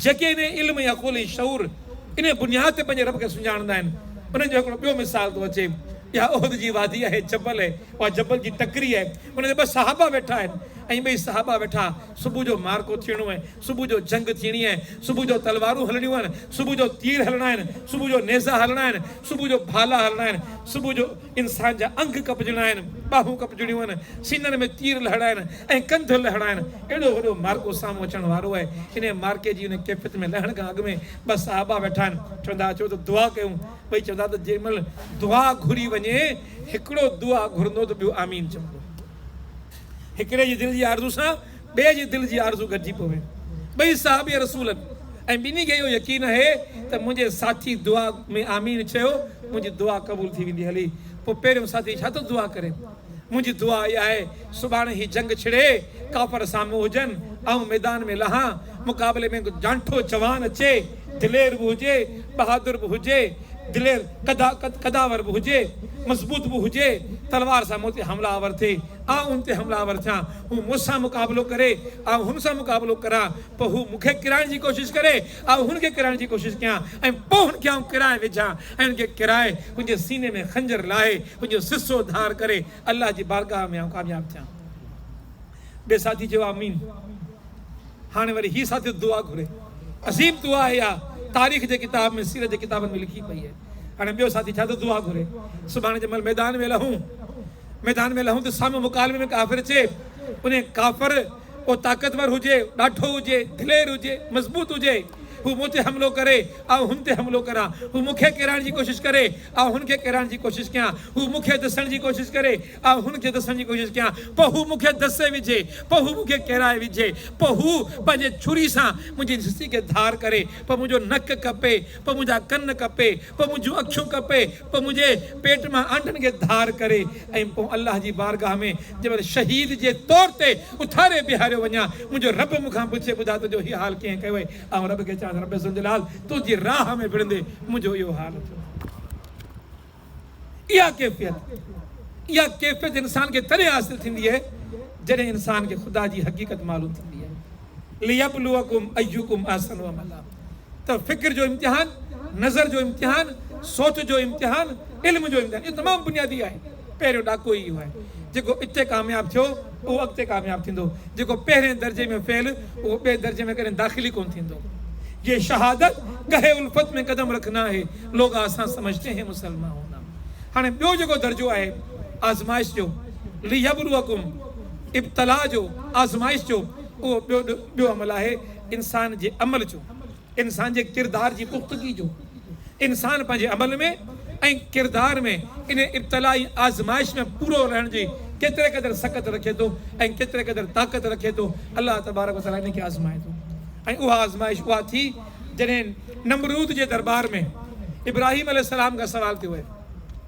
جيڪي انهي علم ۽ عقل ۽ شعور انهي بنياد تي پنهنجي رب کي سڃاڻندا آهن انهن جو هڪڙو ٻيو مثال ٿو اچي اها احد جي وادي آهي جبل آهي اها جبل جي ٽڪري آهي ان تي ٻه صحابا ويٺا آهن ۽ ٻئي صحابا ويٺا صبح جو معرڪو ٿيڻو آهي صبح جو جنگ ٿيڻي آهي، صبح جو تلوارون هلڻيون آهن، صبح جو تير هلڻا آهن، صبح جو نيزا هلڻا آهن، صبح جو ڀالا هلڻا آهن، صبح جو انسان جا انگ ڪپجڻا آهن، ٻانهون ڪپجڻيون آهن، سينن ۾ تير لهڻا آهن ۽ ڪنڌ لهڻا آهن. اهڙو وڏو معرڪو سامهون اچڻ وارو آهي. انهيء معرڪي جي انهيء ڪيفيت ۾ لهڻ کان اڳ ۾ ٻه صحابه ويٺا آهن. چون ٿا اچو ته دعا ڪيون. ٻئي چون ٿا ته جنهن مهل دعا گهري وڃي، هڪڙو دعا گهرندو ته ٻيو آمين چوندو. هڪڙي جي دل جي آرزو سان ٻئي جي دل جي آرزو گڏجي پوي. ٻئي صحابي رسول ۽ ٻنهي کي اهو يقين آهي ته منهنجي ساٿي دعا ۾ آمين چيو منهنجي دعا قبول ٿي ويندي هلي پوء پهريون ساٿي ڇا ٿو دعا ڪري منهنجي دعا اها آهي سڀاڻي هي جنگ ڇڙي ڪافر سامهون هجن آئون ميدان ۾ لهان مقابلي ۾ جانٺو جوان اچي دلير به هجي بهادر به هجي دلير قداور به هجي مضبوط به هجي تلوار سان مون تي حمله آور ٿئي آء ان تي حمله آور ٿيان، هو مون سان مقابلو ڪري، آء هن سان مقابلو ڪران، پوء هو مون کي ڪرائڻ جي ڪوشش ڪري، آء هن کي ڪرائڻ جي ڪوشش ڪيان، ۽ پوء هن کي آئون ڪرائي وجهان، ۽ هن کي ڪرائي، هن جي سيني ۾ خنجر لاهي، هن جو سسو ڌار ڪري، الله جي بارگاهه ۾ آئون ڪامياب ٿيان. ٻئي ساٿي چيو، آمين. هاڻي وري هي ساٿي دعا گهري. عظيم دعا آهي اها، تاريخ جي ڪتاب ۾، سيرت جي ڪتابن ۾ لکي پئي آهي. هاڻي ٻيو ساٿي ڇا ٿو دعا گهري؟ سڀاڻي جي مهل ميدان ۾ لهون. ميدان ۾ لهون ته سامهون مڪالمي ۾ ڪافر اچي، انهي ڪافر ڪو طاقتور هجي، ڏاڍو هجي، دلير هجي، مضبوط هجي، هو مون تي حملو ڪري، آئون هن تي حملو ڪران، هو مون کي ڪيرائڻ جي ڪوشش ڪري، آئون هن کي ڪيرائڻ جي ڪوشش ڪيان، هو مون کي دسڻ جي ڪوشش ڪري، آئون هن کي دسڻ جي ڪوشش ڪيان، پوء هو مون کي دسي وجهي، پوء هو مون کي ڪيرائي وجهي، پوء هو پنهنجي ڇري سان منهنجي جسي کي ڌار ڪري، پوء منهنجو نڪ ڪپي، پوء منهنجا ڪن ڪپي، پوء منهنجون اکيون ڪپي، پوء منهنجي پيٽ مان آنڊن کي ڌار ڪري ۽ پوء الله جي بارگاهه ۾ جنهن مهل شهيد جي طور تي اٿاري بيهاريو وڃان، منهنجو رب مون کان پڇي، ٻڌاء تنهنجو هي حال ڪيئن ڪيو اهي؟ آئون رب کي چوانس، رب ذوالجلال! تنهنجي راهه ۾ وڙهندي منهنجو اهو حال ٿيو. اها ڪيفيت، اها ڪيفيت انسان کي تڏهن حاصل ٿيندي آهي، جڏهن انسان کي خدا جي حقيقت معلوم ٿيندي آهي. ليبلوکم ايکم احسن عملا ته فڪر جو امتحان، نظر جو امتحان، سوچ جو امتحان، علم جو امتحان اهو تمام بنيادي آهي. پهريون ڏاڪو ئي اهو آهي. جيڪو اتي ڪامياب ٿيو اهو اڳتي ڪامياب ٿيندو. جيڪو پهرين درجي ۾ فيل اهو ٻئي درجي ۾ ڪڏهن داخل ئي ڪونه ٿيندو. يي شهادت گهه الفت مين قدم رکنا هي لوگ آسان سمجهتي هين مسلمان هونا هاڻي ٻيو جيڪو درجو آهي آزمائش جو ليبلوکم. ابتلاء جو، آزمائش جو، اهو ٻيو ٻيو عمل آهي انسان جي عمل جو، انسان جي ڪردار جي پختگي جو. انسان پنهنجي عمل ۾ ۽ ڪردار ۾ انهي ابتلاء ۽ آزمائش ۾ پورو رهڻ جي ڪيتري قدر سڪت رکي ٿو ۽ ڪيتري قدر طاقت رکي ٿو، الله تبارڪ و تعاليٰ انهي کي آزمائي ٿو ۽ اها آزمائش اها ٿي جڏهن نمرود جي درٻار ۾ ابراهيم عليه السلام کان سوال ٿيو هي.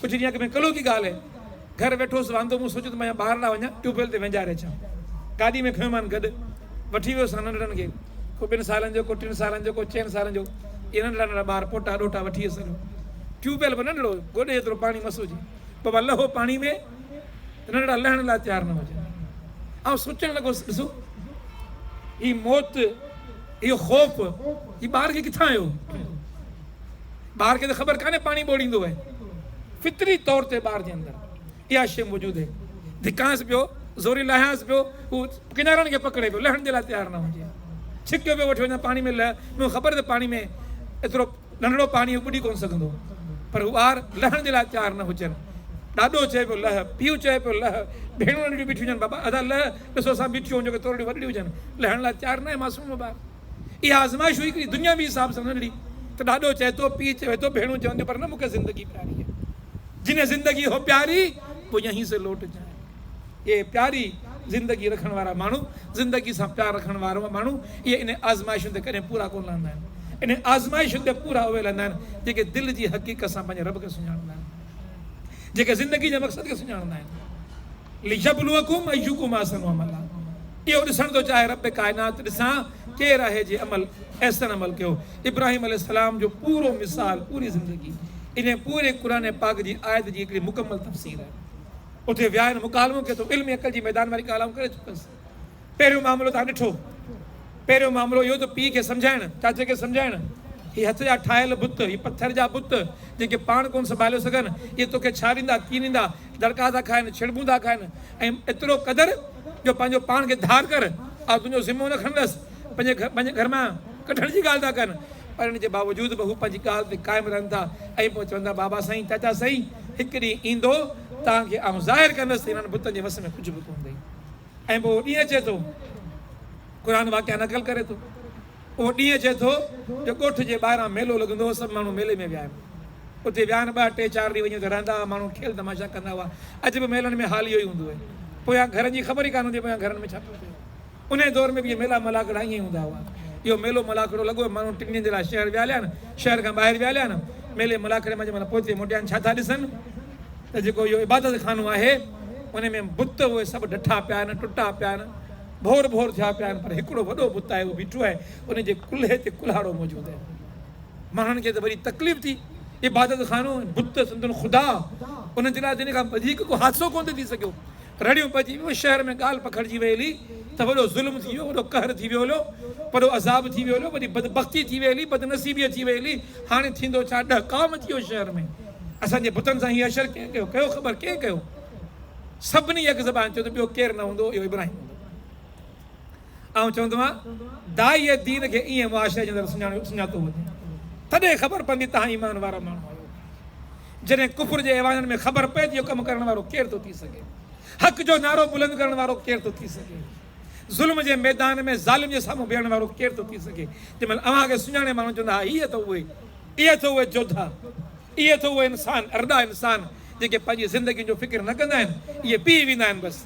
ڪجهه ڏينهن اڳ ۾ ڪلهو جي ڳالهه هئي. گهر ويٺو هوس واندو، مون سوچيو ته ميان ٻاهر ڏانهن وڃان، ٽيوب ويل تي وهنجاري اچان. گاڏي ۾ کنيومان گڏ. وٺي ويو سان ننڍڙن کي. ڪو ٻن سالن جو، ڪو ٽن سالن جو، ڪو چئن سالن جو. اهي ننڍڙا ننڍڙا ٻار، پوٽا ڏوهٽا وٺي ويس هليو. ٽيوب ويل به ننڍڙو هيو، گوڏي جيترو پاڻي مس هجي. بابا لهو پاڻي ۾ ته ننڍڙا لهڻ لاء تيار نه هجن. آئون سوچڻ لڳوس، ڏسو! هي موت، اهو خوف، هي ٻار کي ڪٿان آيو؟ ٻار کي ته خبر ڪانهي پاڻي ٻوڙيندو اهي فطري طور تي ٻار جي اندر اها شيء موجود اهي ڌڪانس پيو زوري لاهيانس پيو هو ڪنارن کي پڪڙي پيو لهڻ جي لاء تيار نه هجي ڇڪيو پيو وٺي وڃا پاڻي ۾ لهه مون خبر ته پاڻي ۾ ايترو ننڍڙو پاڻي ٻڏي ڪون سگهندو پر هو ٻار لهڻ جي لاء تيار نه هجن ڏاڏو چئي پيو لهه پيو چئي پيو لهه ڀيڻون ننڍڙيون بيٺيون هجن بابا ادا لهه ڏسو اسان بيٺيون هجون جيڪي تورڙيون وڏڙيون هجن لهڻ لاء تيار نه آهي معصوم ٻار اها آزمائش هئي هڪڙي دنياوي حساب سان ننڍڙي ته ڏاڏو چئي ٿو پيء چوي ٿو ڀيڻون چون ٿيون پر نه مون کي زندگي پياري آهي جنهن زندگي هو پياري وہ يهين سي لوٽ جائي اهي پياري زندگي رکڻ وارا ماڻهو زندگي سان پيار رکڻ وارا ماڻهو اهي انهن آزمائشن تي ڪڏهن پورا ڪونه لهندا آهن انهن آزمائشن تي پورا اهي لهندا آهن جيڪي دل جي حقيقت سان پنهنجي رب کي سڃاڻندا آهن جيڪي زندگي جي مقصد کي سڃاڻندا آهن ليبلوکم ايکم احسن عملا اهو ڏسڻ ٿو چاهي رب ڪائنات ڏسان ڪير آهي جنهن عمل احسن عمل ڪيو ابراهيم عليه السلام جو پورو مثال پوري زندگي انهي پوري قرآن پاڪ جي آيت جي هڪڙي مڪمل تفسير آهي اتي ويا آهن مڪالمو ڪيو اٿم علم ۽ عقل جي ميدان واري ڳالهه آئون ڪري چڪس. پهريون معاملو توهان ڏٺو. پهريون معاملو اهو ته پيء کي سمجهائڻ، چاچي کي سمجهائڻ، هي هٿ جا ٺاهيل بت، هي پٿر جا بت، جن کي پاڻ ڪونه سنڀاليو سگهن، اهي توکي ڇا ڏيندا، ڪيئن ڏيندا، دڙڪا ٿا کائن، ڇڙٻون ٿا کائن، ۽ ايترو قدر جو پنهنجو پاڻ کي ڌار ڪر، آء تنهنجو ذمو نه کڻندس، پنهنجي گهر مان ڪڍڻ جي ڳالهه ٿا ڪن، پر ان جي باوجود به هو پنهنجي ڳالهه تي قائم رهن ٿا ۽ پوء چون ٿا بابا سائين، چاچا سائين، هڪ ڏينهن ايندو، توهان کي آئون ظاهر ڪندس ته هنن بتن جي وس ۾ ڪجهه به ڪونه اٿئي. ۽ پوء اهو ڏينهن اچي ٿو، قرآن واقعا نقل ڪري ٿو، اهو ڏينهن اچي ٿو جو ڳوٺ جي ٻاهران ميلو لڳندو هو، سڀ ماڻهو ميلي ۾ ويا آهن، اتي ويا آهن، ٻه، ٽي، چار ڏينهن وڃي اتي رهندا هئا، ماڻهو کيل تماشا ڪندا هئا، اڄ به ميلن ۾ حال اهو ئي هوندو آهي، پويان گهرن جي خبر ئي ڪانه هوندي آهي پويان گهرن ۾ ڇا پيو ٿئي، انهيء دور ۾ به اهي ميلا ملاکڙا ائين ئي هوندا هئا، اهو ميلو ملاکڙو لڳو هو، ماڻهو ٽن ڏينهن جي لاء شهر ويا هليا آهن، شهر کان ٻاهر ويا هليا آهن، ميلي ملاکڙي مان جنهن مهل پوئتي موٽيا آهن، ڇا ٿا ڏسن؟ ته جيڪو اهو عبادت خانو آهي ان ۾ بت اهي سڀ ڊٺا پيا آهن ٽٽا پيا آهن ڀور ڀور ٿيا پيا آهن پر هڪڙو وڏو بت آهي اهو بيٺو آهي ان جي ڪلهي تي ڪلهاڙو موجود آهي ماڻهن کي ته وڏي تڪليف ٿي عبادت خانو بت سندن خدا ان جي لاء جن کان وڌيڪ ڪو حادثو ڪون ٿي سگهيو رڙيون پئجي ويون شهر ۾ ڳالهه پکڙجي ويل هلي ته وڏو ظلم ٿي ويو وڏو قهر ٿي ويو هليو وڏو عذاب ٿي ويو هليو وڏي بدبختي ٿي ويل هلي بدنصيبي ٿي ويل هلي هاڻي ٿيندو ڇا ڏهه ڪام ٿي ويو شهر ۾ اسان جي بتن سان هي حشر ڪنهن ڪيو؟ ڪيو خبر ڪنهن ڪيو؟ سڀني يڪ زبان چيو ته ٻيو ڪير نه هوندو اهو ابراهيم هوندو. آئون چوندو آهيان داعيء دين کي ايئن معاشري جي اندر سڃاڻيو سڃاتو وڃي تڏهن خبر پوندي ته اوهان ايمان وارا ماڻهو آهيو. جڏهن ڪفر جي ايوانن ۾ خبر پئي ته اهو ڪم ڪرڻ وارو ڪير ٿو ٿي سگهي؟ حق جو نعرو بلند ڪرڻ وارو ڪير ٿو ٿي سگهي؟ ظلم جي ميدان ۾ ظالم جي سامهون بيهڻ وارو ڪير ٿو ٿي سگهي؟ تنهن مهل اوهان کي سڃاڻي ماڻهو چوندا ها هي اٿو اهي. اهي ته اهي جوڌا، اهي ته اهي انسان، ارڏا انسان، جيڪي پنهنجي زندگين جو فڪر نه ڪندا آهن، اهي بيهي ويندا آهن بس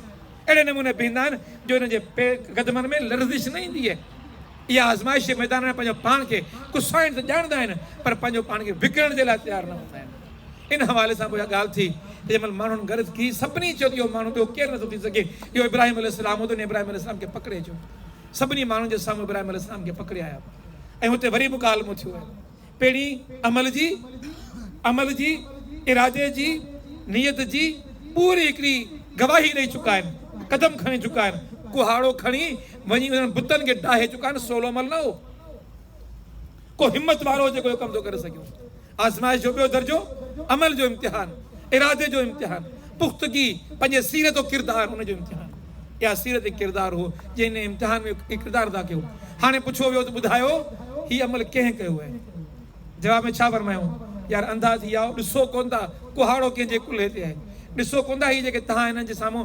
اهڙي نموني بيهندا آهن جو انهن جي پير قدمن ۾ لرزش نه ايندي اهي آزمائشي ميدان ۾ پنهنجو پاڻ کي ڪسائڻ ته ڄاڻندا آهن پر پنهنجو پاڻ کي وڪڻڻ جي لاء تيار نه هوندا آهن ان حوالي سان به اها ڳالهه ٿي ته جنهن مهل ماڻهن غرض ڪي سڀني چيو ته اهو ماڻهو ٻيو ڪير نٿو ٿي سگهي اهو ابراهيم عليه السلام هو ته انهن ابراهيم عليه السلام کي پڪڙي اچو سڀني ماڻهن جي سامهون ابراهيم عليه السلام کي پڪڙي آيا ۽ اتي وري مڪالمو ٿيو ۽ پهرين عمل جي عمل جي ارادي جي نيت جي پوري هڪڙي گواهي ڏئي چڪا آهن قدم کڻي چڪا آهن ڪهاڙو کڻي وڃي انهن بتن کي ڊاهي چڪا آهن سولو عمل نه هو. ڪو همت وارو جيڪو اهو ڪم ٿو ڪري سگهيو. آزمائش جو ٻيو درجو عمل جو امتحان، ارادي جو امتحان، پختگي، پنهنجي سيرت و ڪردار ان جو امتحان. اها سيرت ۽ ڪردار هو جنهن انهيء امتحان ۾ اهو ڪردار ادا ڪيو. هاڻي پڇيو ويو ته ٻڌايو هي عمل ڪنهن ڪيو آهي؟ جواب ۾ ڇا فرمايون؟ يار انڌا ٿي آئو، ڏسو ڪونه ٿا ڪهاڙو ڪنهن جي ڪلهي تي آهي؟ ڏسو ڪونه ٿا هي جيڪي تهان هنن جي سامهون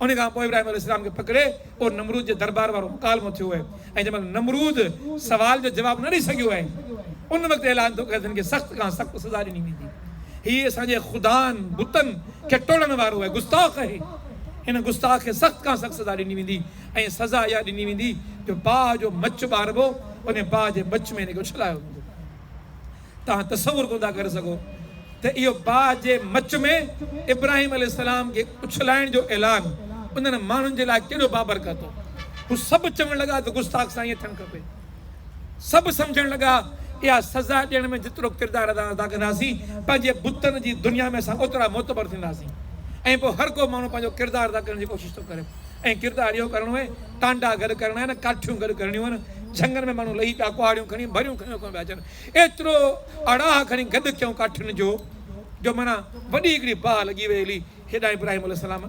ان کان پوء ابراهيم عليه السلام کي پڪڙي اهو نمرود جي دربار وارو مڪالمو ٿيو اهي ۽ جنهن مهل نمرود سوال جو جواب نه ڏئي سگهيو اهي ان وقت اعلان ٿيو ڪه هن کي سخت کان سخت سزا ڏني ويندي هي اسان جي خدائن، بتن، کي ٽوڙڻ وارو اهي گستاخ اهي هن گستاخ کي سخت کان سخت سزا ڏني ويندي ۽ سزا اها ڏني ويندي جو باهه جو مچ ٻاربو انهي باهه جي مچ ۾ هن کي اڇلايو ويندو. توهان تصور ڪونه ٿا ڪري سگهو ته اهو باهه جي مچ ۾ ابراهيم عليه السلام کي اڇلائڻ جو اعلان انهن ماڻهن جي لاء ڪيڏو بابرڪت هو. هو سڀ چوڻ لڳا ته گستاخ سان ائين ٿيڻ کپي. سڀ سمجهڻ لڳا اها سزا ڏيڻ ۾ جيترو ڪردار ادا ادا ڪنداسين پنهنجي بتن جي دنيا ۾ اسان اوترا معتبر ٿينداسين ۽ پوء هر ڪو ماڻهو پنهنجو ڪردار ادا ڪرڻ جي ڪوشش ٿو ڪري ۽ ڪردار اهو ڪرڻو آهي ٽانڊا گڏ ڪرڻا آهن ڪاٺيون گڏ ڪرڻيون آهن جهنگن ۾ ماڻهو لهي پيا ڪهاڙيون کڻي ڀريون کنيو ڪيون پيا اچن ايترو اڙاهه کڻي گڏ ٿيو ڪاٺين جو، جو معنيٰ وڏي هڪڙي باهه لڳي ويئي هلي هيڏانهن ابراهيم عليه السلام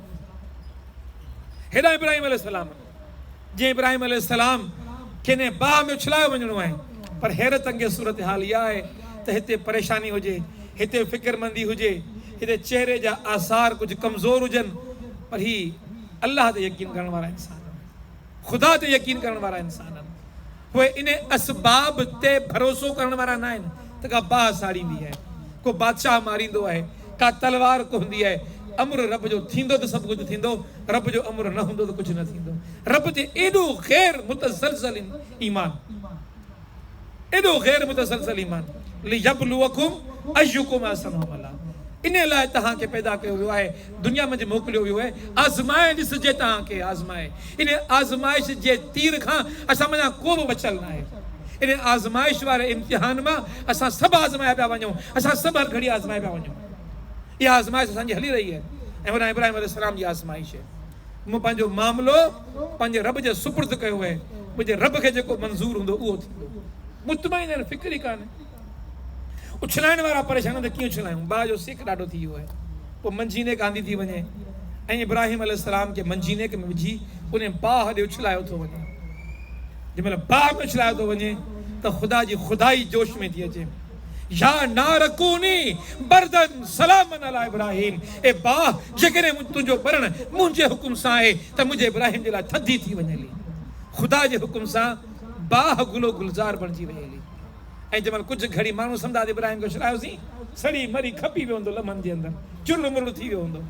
هيڏانهن ابراهيم عليه السلام جيئن ابراهيم عليه السلام کي انهيء باهه ۾ اڇلايو وڃڻو آهي پر حيرت انگيز صورتحال اها آهي ته هتي پريشاني هجي هتي فڪرمندي هجي هتي چهري جا آثار ڪجهه ڪمزور هجن پر هي الله تي يقين ڪرڻ وارا انسان خدا تي يقين ڪرڻ وارا انسان آهن، پوء انهي اسباب تي ڀروسو ڪرڻ وارا ناهن ته ڪا باهه ساڙيندي آهي، ڪو بادشاهه ماريندو آهي، ڪا تلوار ڪهندي آهي، امر رب جو ٿيندو ته سڀ ڪجهه ٿيندو، رب جو امر نه هوندو ته ڪجهه نه ٿيندو. رب تي ايڏو غير متزلزل ايمان! ايڏو غير متسلسل ايمان، ليبلوکم ايکم احسن عملا، انهي لاء توهان کي پيدا ڪيو ويو آهي، دنيا منجهه موڪليو ويو آهي، آزمائي ڏسجي توهان کي آزمائي، انهي آزمائش جي تير کان اسان منجهان ڪو به بچيل ناهي، انهي آزمائش واري امتحان مان اسان سڀ آزمايا پيا وڃون، اسان سڀ هر گهڙي آزمايا پيا وڃون، اها آزمائش اسان جي هلي رهي آهي ۽ ورانهن ابراهيم عليه السلام جي آزمائش. مون پنهنجو معاملو پنهنجي رب جي سپرد ڪيو آهي، منهنجي رب کي جيڪو منظور هوندو اهو ٿيندو. مطمئن آهن فڪر ئي ڪانه. اڇلائڻ وارا پريشان آهن ته ڪيئن اڇلايون، باهه جو سيڪ ڏاڍو ٿي ويو آهي. پوء منجينيڪ آندي ٿي وڃي ۽ ابراهيم عليه السلام کي منجينيڪ ۾ وجهي انهي باهه ڏي اڇلايو ٿو وڃي. جنهن مهل باهه ۾ اڇلايو ٿو وڃي ته خدا جي خدائي جوش ۾ ٿي اچي. يا نارڪوني بردن سلاما علي ابراهيم، اي باھ! جيڪڏهن تنهنجو ٻرڻ منهنجي حڪم سان آهي ته منهنجي ابراهيم جي لاء ٿڌي ٿي وڃي هلي. خدا جي حڪم سان باھ گلو گلزار بڻجي وئي هلي ۽ جنهن مهل ڪجهه گهڙي ماڻهو سمداد ابراهيم کي اڇلايوسين، سڙي مري کپي ويو هوندو، لمحن جي اندر چرڙ مرڙ ٿي ويو هوندو.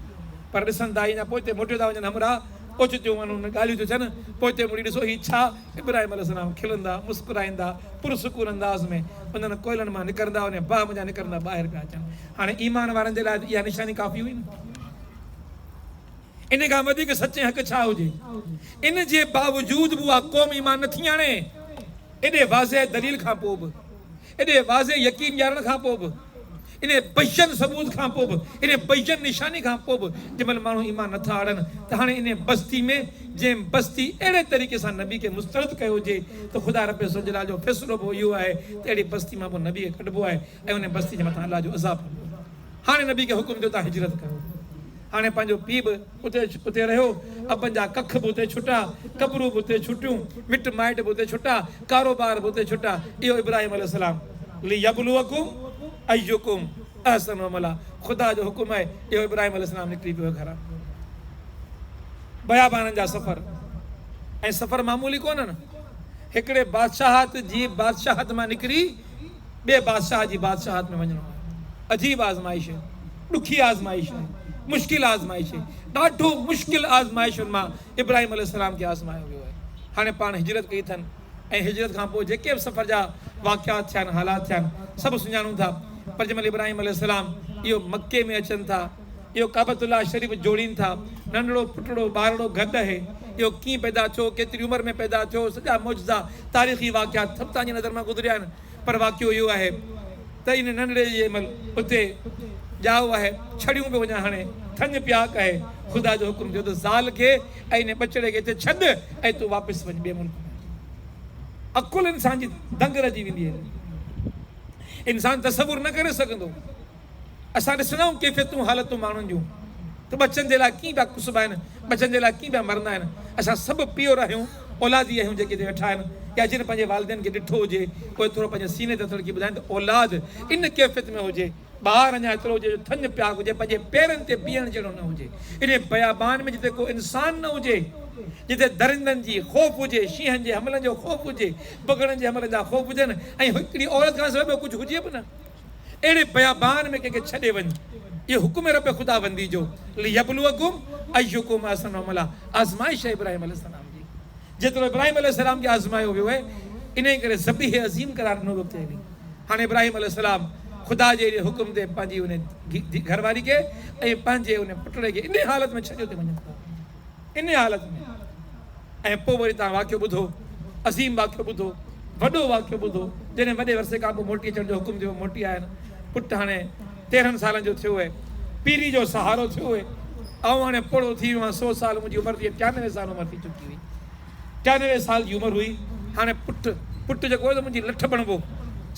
پر ڏسن ته آهي اڃا پوئتي موٽيو ٿا وڃن همراھ، اوچتيون انهن ڳالهيون ٿيون ٿين، پوئتي مڙي ڏسو هي ڇا؟ ابراهيم عليه السلام کلندا، مسڪرائيندا، پرسڪون انداز ۾ انهن ڪوئلن مان نڪرندا، انهيء باهه منجهان نڪرندا ٻاهر پيا اچن. هاڻي ايمان وارن جي لاء ته اها نشاني ڪافي هئي نه. ان کان وڌيڪ سچي حق ڇا هجي؟ ان جي باوجود به اها قوم ايمان نٿي آڻي. ايڏي واضح دليل کان پوء به ايڏي واضح يقين ڏيارڻ کان پوء به، انهي بيان ثبوت کان پوء به، انهي بيان نشاني کان پوء به جنهن مهل ماڻهو ايمان نه ٿا آڻن ته هاڻي انهي بستي ۾ جنهن بستي اهڙي طريقي سان نبي کي مسترد ڪيو هجي ته خدا رب ذوالجلال جو فيصلو به اهو آهي ته اهڙي بستي مان پوء نبي کي ڪڍبو آهي ۽ انهي بستي جي مٿان الله جو عذاب ايندو. هاڻي نبي کي حڪم ٿيو تان هجرت ڪريو. هاڻي پنهنجو پيء به. اتي اتي رهيو، ابن جا ڪک به اتي ڇٽا، قبرون به اتي ڇٽيون، مٽ مائٽ به اتي ڇٽا، ڪاروبار به اتي ڇٽا، اهو ابراهيم عليه السلام، ليبلوکم ايکم احسن عملا، خدا جو حڪم آهي، اهو ابراهيم عليه السلام نڪري پيو گهران. بيابانن جا سفر ۽ سفر معمولي ڪونهن، هڪڙي بادشاهت جي بادشاهت مان نڪري، ٻئي بادشاهه جي بادشاهت ۾ وڃڻو آهي. عجيب آزمائش آهي. ڏکي آزمائش آهي. مشڪل آزمائش آهي. ڏاڍو مشڪل آزمائشن مان ابراهيم عليه السلام کي آزمايو ويو آهي. هاڻي پاڻ هجرت ڪئي اٿن ۽ هجرت کان پوء جيڪي به سفر جا واقعات ٿيا آهن، حالات ٿيا آهن، سڀ سڃاڻون ٿا. پر جنهن مهل ابراهيم عليه السلام اهو مڪي ۾ اچن ٿا. اهو ڪعبت الله شريف جوڙين ٿا. ننڍڙو پٽڙو ٻارڙو گڏ اهي. اهو ڪيئن پيدا ٿيو، ڪيتري عمر ۾ پيدا ٿيو، سڄا معجزا، تاريخي واقعات سڀ تهان جي نظر مان گذريا آهن پر واقعو اهو آهي ته ان ننڍڙي جي مل اتي ڄائو آهي، ڇڙيون به وڃان هڻي، ٿڃ پياڪ آهي، خدا جو حڪم ٿيو ته زال کي ۽ انهي ٻچڙي کي اتي ڇڏ ۽ تون واپس وڃ ٻئي ملڪ ۾. عقل انسان جي دنگ رهجي ويندي آهي. انسان تصور نه ڪري سگهندو. اسان ڏسندائون ڪيفيتون حالتون ماڻهن جون ته ٻچن جي لاء ڪيئن پيا ڪسبا آهن ٻچن جي لاء ڪيئن پيا مرندا آهن اسان سڀ پيئر آهيون اولاد ئي آهيون جيڪي هتي ويٺا آهن يا جن پنهنجي والدين کي ڏٺو هجي اهي ٿورو پنهنجي سيني تي هٿ رکي ٻڌائين ته اولاد ان ڪيفيت ۾ هجي ٻار اڃا ايترو هجي جو ٿڃ پياڪ هجي پنهنجي پيرن تي بيهڻ جهڙو نه هجي انهي بيابان ۾ جتي ڪو انسان نه هجي جتي درندن جي خوف هجي شينهن جي حملن جو خوف هجي بگهڙن جي حملن جا خوف هجن ۽ هڪڙي عورت کان سواء ٻيو ڪجهه هجي به نه. اهڙي بيابان ۾ ڪنهن کي ڇڏي وڃ. اهو حڪم رب خداوندي جو، ليبلوڪم ايڪم احسن عملا، آزمائش آهي ابراهيم عليه السلام جي. جيترو ابراهيم عليه السلام کي آزمايو ويو اهي، انهيء ڪري ذبيح عظيم قرار ڏنو ويو تنهن ڏينهن. هاڻي ابراهيم عليه السلام خدا جي اهڙي حڪم تي پنهنجي ان گهر واري کي ۽ پنهنجي ان پٽڙي کي انهيء حالت ۾ ڇڏيو ته وڃن ٿا. انهيء حالت ۾، ۽ پوء وري توهان واقعو ٻڌو، عظيم واقعو ٻڌو، وڏو واقعو ٻڌو، جڏهن وڏي عرصي کان پوء موٽي اچڻ جو حڪم ٿيو، موٽي آيا آهن، پٽ هاڻي تيرهن سالن جو ٿيو اهي، پيري جو سهارو ٿيو اهي، آئون هاڻي پوڙهو ٿي ويو آهيان، سو سال منهنجي عمر ٿي ٽيانوي سال عمر ٿي چڪي هئي، ٽيانوي سال جي عمر هئي، هاڻي پٽ، پٽ جيڪو اهي سو منهنجي لٺ بڻبو،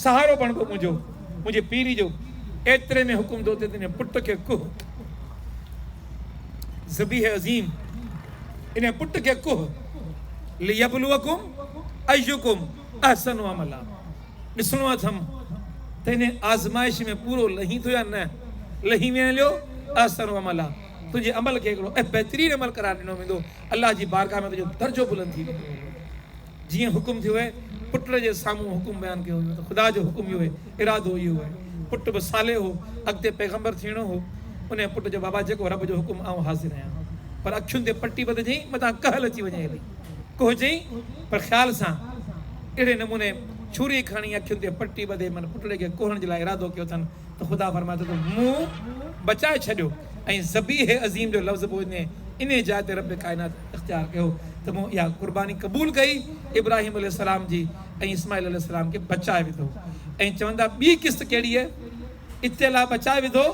سهارو بڻبو منهنجو، منهنجي پيري جو، ايتري ۾ حڪم ٿيو ته تنهنجي پٽ کي ڪهه. ذبيح عظيم انهيء پٽ کي ڪوهه ليبلوکم ايکم احسن عملا ڏسڻو اٿم ته انهيء آزمائش ۾ پورو لهين ٿو يا نه لهين ويهين ليو احسن عملا تنهنجي عمل کي هڪڙو بهترين عمل قرار ڏنو ويندو الله جي بارگاهه ۾ تنهنجو درجو بلند ٿي ويندو جيئن حڪم ٿيو آهي، پٽ جي سامهون حڪم بيان ڪيو ويو ته خدا جو حڪم اهو آهي، ارادو اهو آهي. پٽ به صالح هو، اڳتي پيغمبر ٿيڻو هو. انهيء پٽ چيو، بابا جيڪو رب جو حڪم آئون حاضر آهيان. پر اکين تي پٽي ٻڌجئين، متان ڪهل اچي وڃي هلي. ڪهجئين پر خيال سان. اهڙي نموني ڇوري کڻي اکين تي پٽي ٻڌي من پٽڙي کي ڪوهڻ جي لاء ارادو ڪيو اٿن ته خدا فرمايو ته تون منهن بچائي ڇڏيو ۽ ذبيح عظيم جو لفظ به انهيء جاء تي رب ڪائنات اختيار ڪيو ته مون اها قرباني قبول ڪئي ابراهيم عليه السلام جي ۽ اسماعيل عليه السلام کي بچائي وڌو ۽ چوندا ٻي قسط ڪهڙي اتي الله بچائي وڌو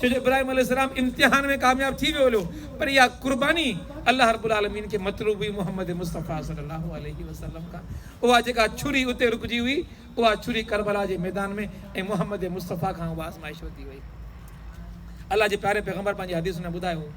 ڇو جو ابراهيم عليه السلام امتحان ۾ ڪامياب ٿي ويو هليو پر اها قرباني الله رب العالمين کي مطلوب هئي محمد مصطفيٰ صلي الله عليه وسلم کان اها جيڪا ڇري اتي رڪجي هئي اها ڇري ڪربلا جي ميدان ۾ ۽ محمد مصطفيٰ کان اها آزمائش ورتي وئي. الله جي پياري پيغمبر پنهنجي حديث ۾ ٻڌايو هو،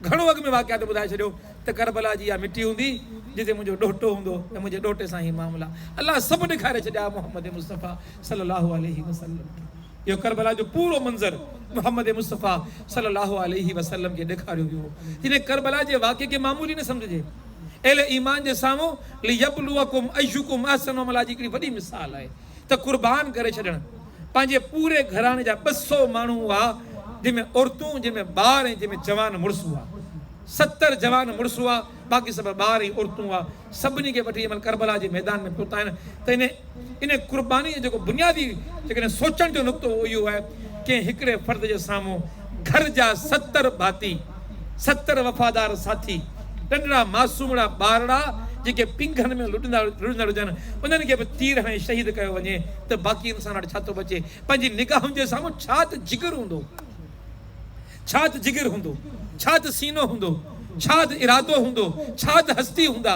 گهڻو اڳ ۾ واقعات ۾ ٻڌائي ڇڏيو ته ڪربلا جي اها مٽي هوندي جتي منهنجو ڏوهٽو هوندو ۽ منهنجي ڏوهٽي سان هي معاملا الله سڀ ڏيکاري ڇڏيا محمد مصطفيٰ صلي الله عليه وسلم کي. اهو ڪربلا جو پورو منظر محمد مصطفيٰ صلي الله عليه وسلم کي ڏيکاريو ويو هو. تڏهن ڪربلا جي واقعي کي معمولي نه سمجهجي. اهل ايمان جي سامهون ليبلوڪم ايّڪم احسن عملا جي هڪڙي وڏي مثال آهي ته قربان ڪري ڇڏڻ پنهنجي پوري گهراڻي جا ٻه سؤ ماڻهو هئا جن ۾ عورتون جن ۾ ٻار ۽ جن ۾ جوان مڙس هئا ستر جوان مڙس هئا باقي سڀ ٻار ۽ عورتون هئا سڀني کي وٺي جنهن مهل ڪربلا جي ميدان ۾ پهتا آهن ته انهي ان قرباني جو جيڪو بنيادي جيڪڏهن سوچڻ جو نقطو اهو اهو آهي ڪنهن هڪڙي فرد جي سامهون گهر جا ستر ڀاتي، ستر وفادار ساٿي، ننڍڙا معصومڙا ٻارڙا جيڪي پينگهن ۾ لڏندا لڙندڙ هجن انهن کي به تير هڻي شهيد ڪيو وڃي ته باقي انسان وٽ ڇا ٿو بچي؟ پنهنجي نگاهن جي سامهون ڇا ته جگر هوندو، ڇا ته جگر هوندو، ڇا ته سينو هوندو، ڇا ته ارادو هوندو، ڇا ته هستي هوندا.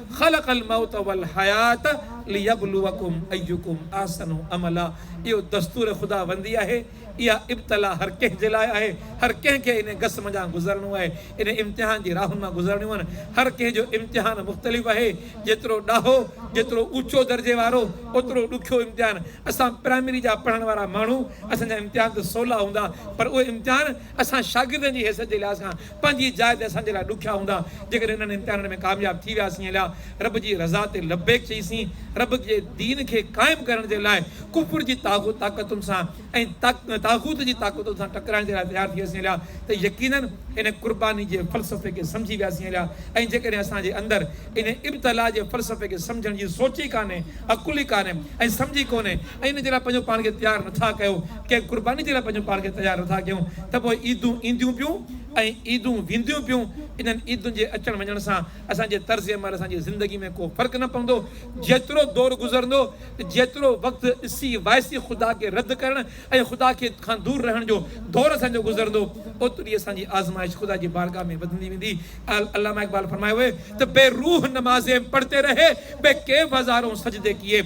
خلق الموت والحيات ليبلوکم ايکم احسن عملا اهو دستور خداوندي آهي، اها ابتلا هر ڪنهن جي لاء آهي، هر ڪنهن کي انهي گس منجهان گذرڻو آهي، انهي امتحان جي راهن مان گذرڻيون آهن، هر ڪنهن جو امتحان مختلف آهي، جيترو ڏاهو، جيترو اوچو درجي وارو، اوترو ڏکيو امتحان، اسان پرائمري جا پڙهڻ وارا ماڻهو، اسان جا امتحان ته سولا هوندا، پر اهي امتحان اسان شاگردن جي حيثيت جي لحاظ کان پنهنجي جاء تي اسان جي لاء ڏکيا هوندا، جيڪڏهن انهن امتحانن ۾ ڪامياب ٿي وياسين الا رب جي رضا تي لبيڪ چئيسين، رب جي دين کي قائم ڪرڻ جي لاء ڪفر جي طاغوت طاقتن سان ۽ طاغوت جي طاقتن سان ٽڪرائڻ جي لاء تيار ٿي وياسين الا ته يقينن ان قرباني جي فلسفي کي سمجهي وياسين الا ۽ جيڪڏهن اسان جي اندر ان ابتلاء جي فلسفي کي سمجهڻ جي سوچ ئي ڪانهي، عقل ئي ڪانهي ۽ سمجهه ئي ڪونهي ۽ ان جي لاء پنهنجو پاڻ کي تيار نٿا ڪيو، ڪنهن قرباني جي لاء پنهنجو پاڻ کي تيار نٿا ڪيون ته پوء عيدون اينديون پيون ۽ عيدون وينديون پيون، انهن عيدن جي اچڻ وڃڻ سان اسان جي طرز عمل اسان جي زندگي ۾ ڪو فرق نه پوندو، جيترو دور گذرندو ته جيترو وقت ڏسي وائسي خدا کي رد ڪرڻ ۽ خدا کي کان دور رهڻ جو دور اسان جو گذرندو اوتري اسان جي آزمائش خدا جي بارگاھ ۾ وڌندي ويندي علامه اقبال فرمايو هي ته بي روح نمازين پڙهتي رهي بي ڪيف هزارون سجدي ڪيي.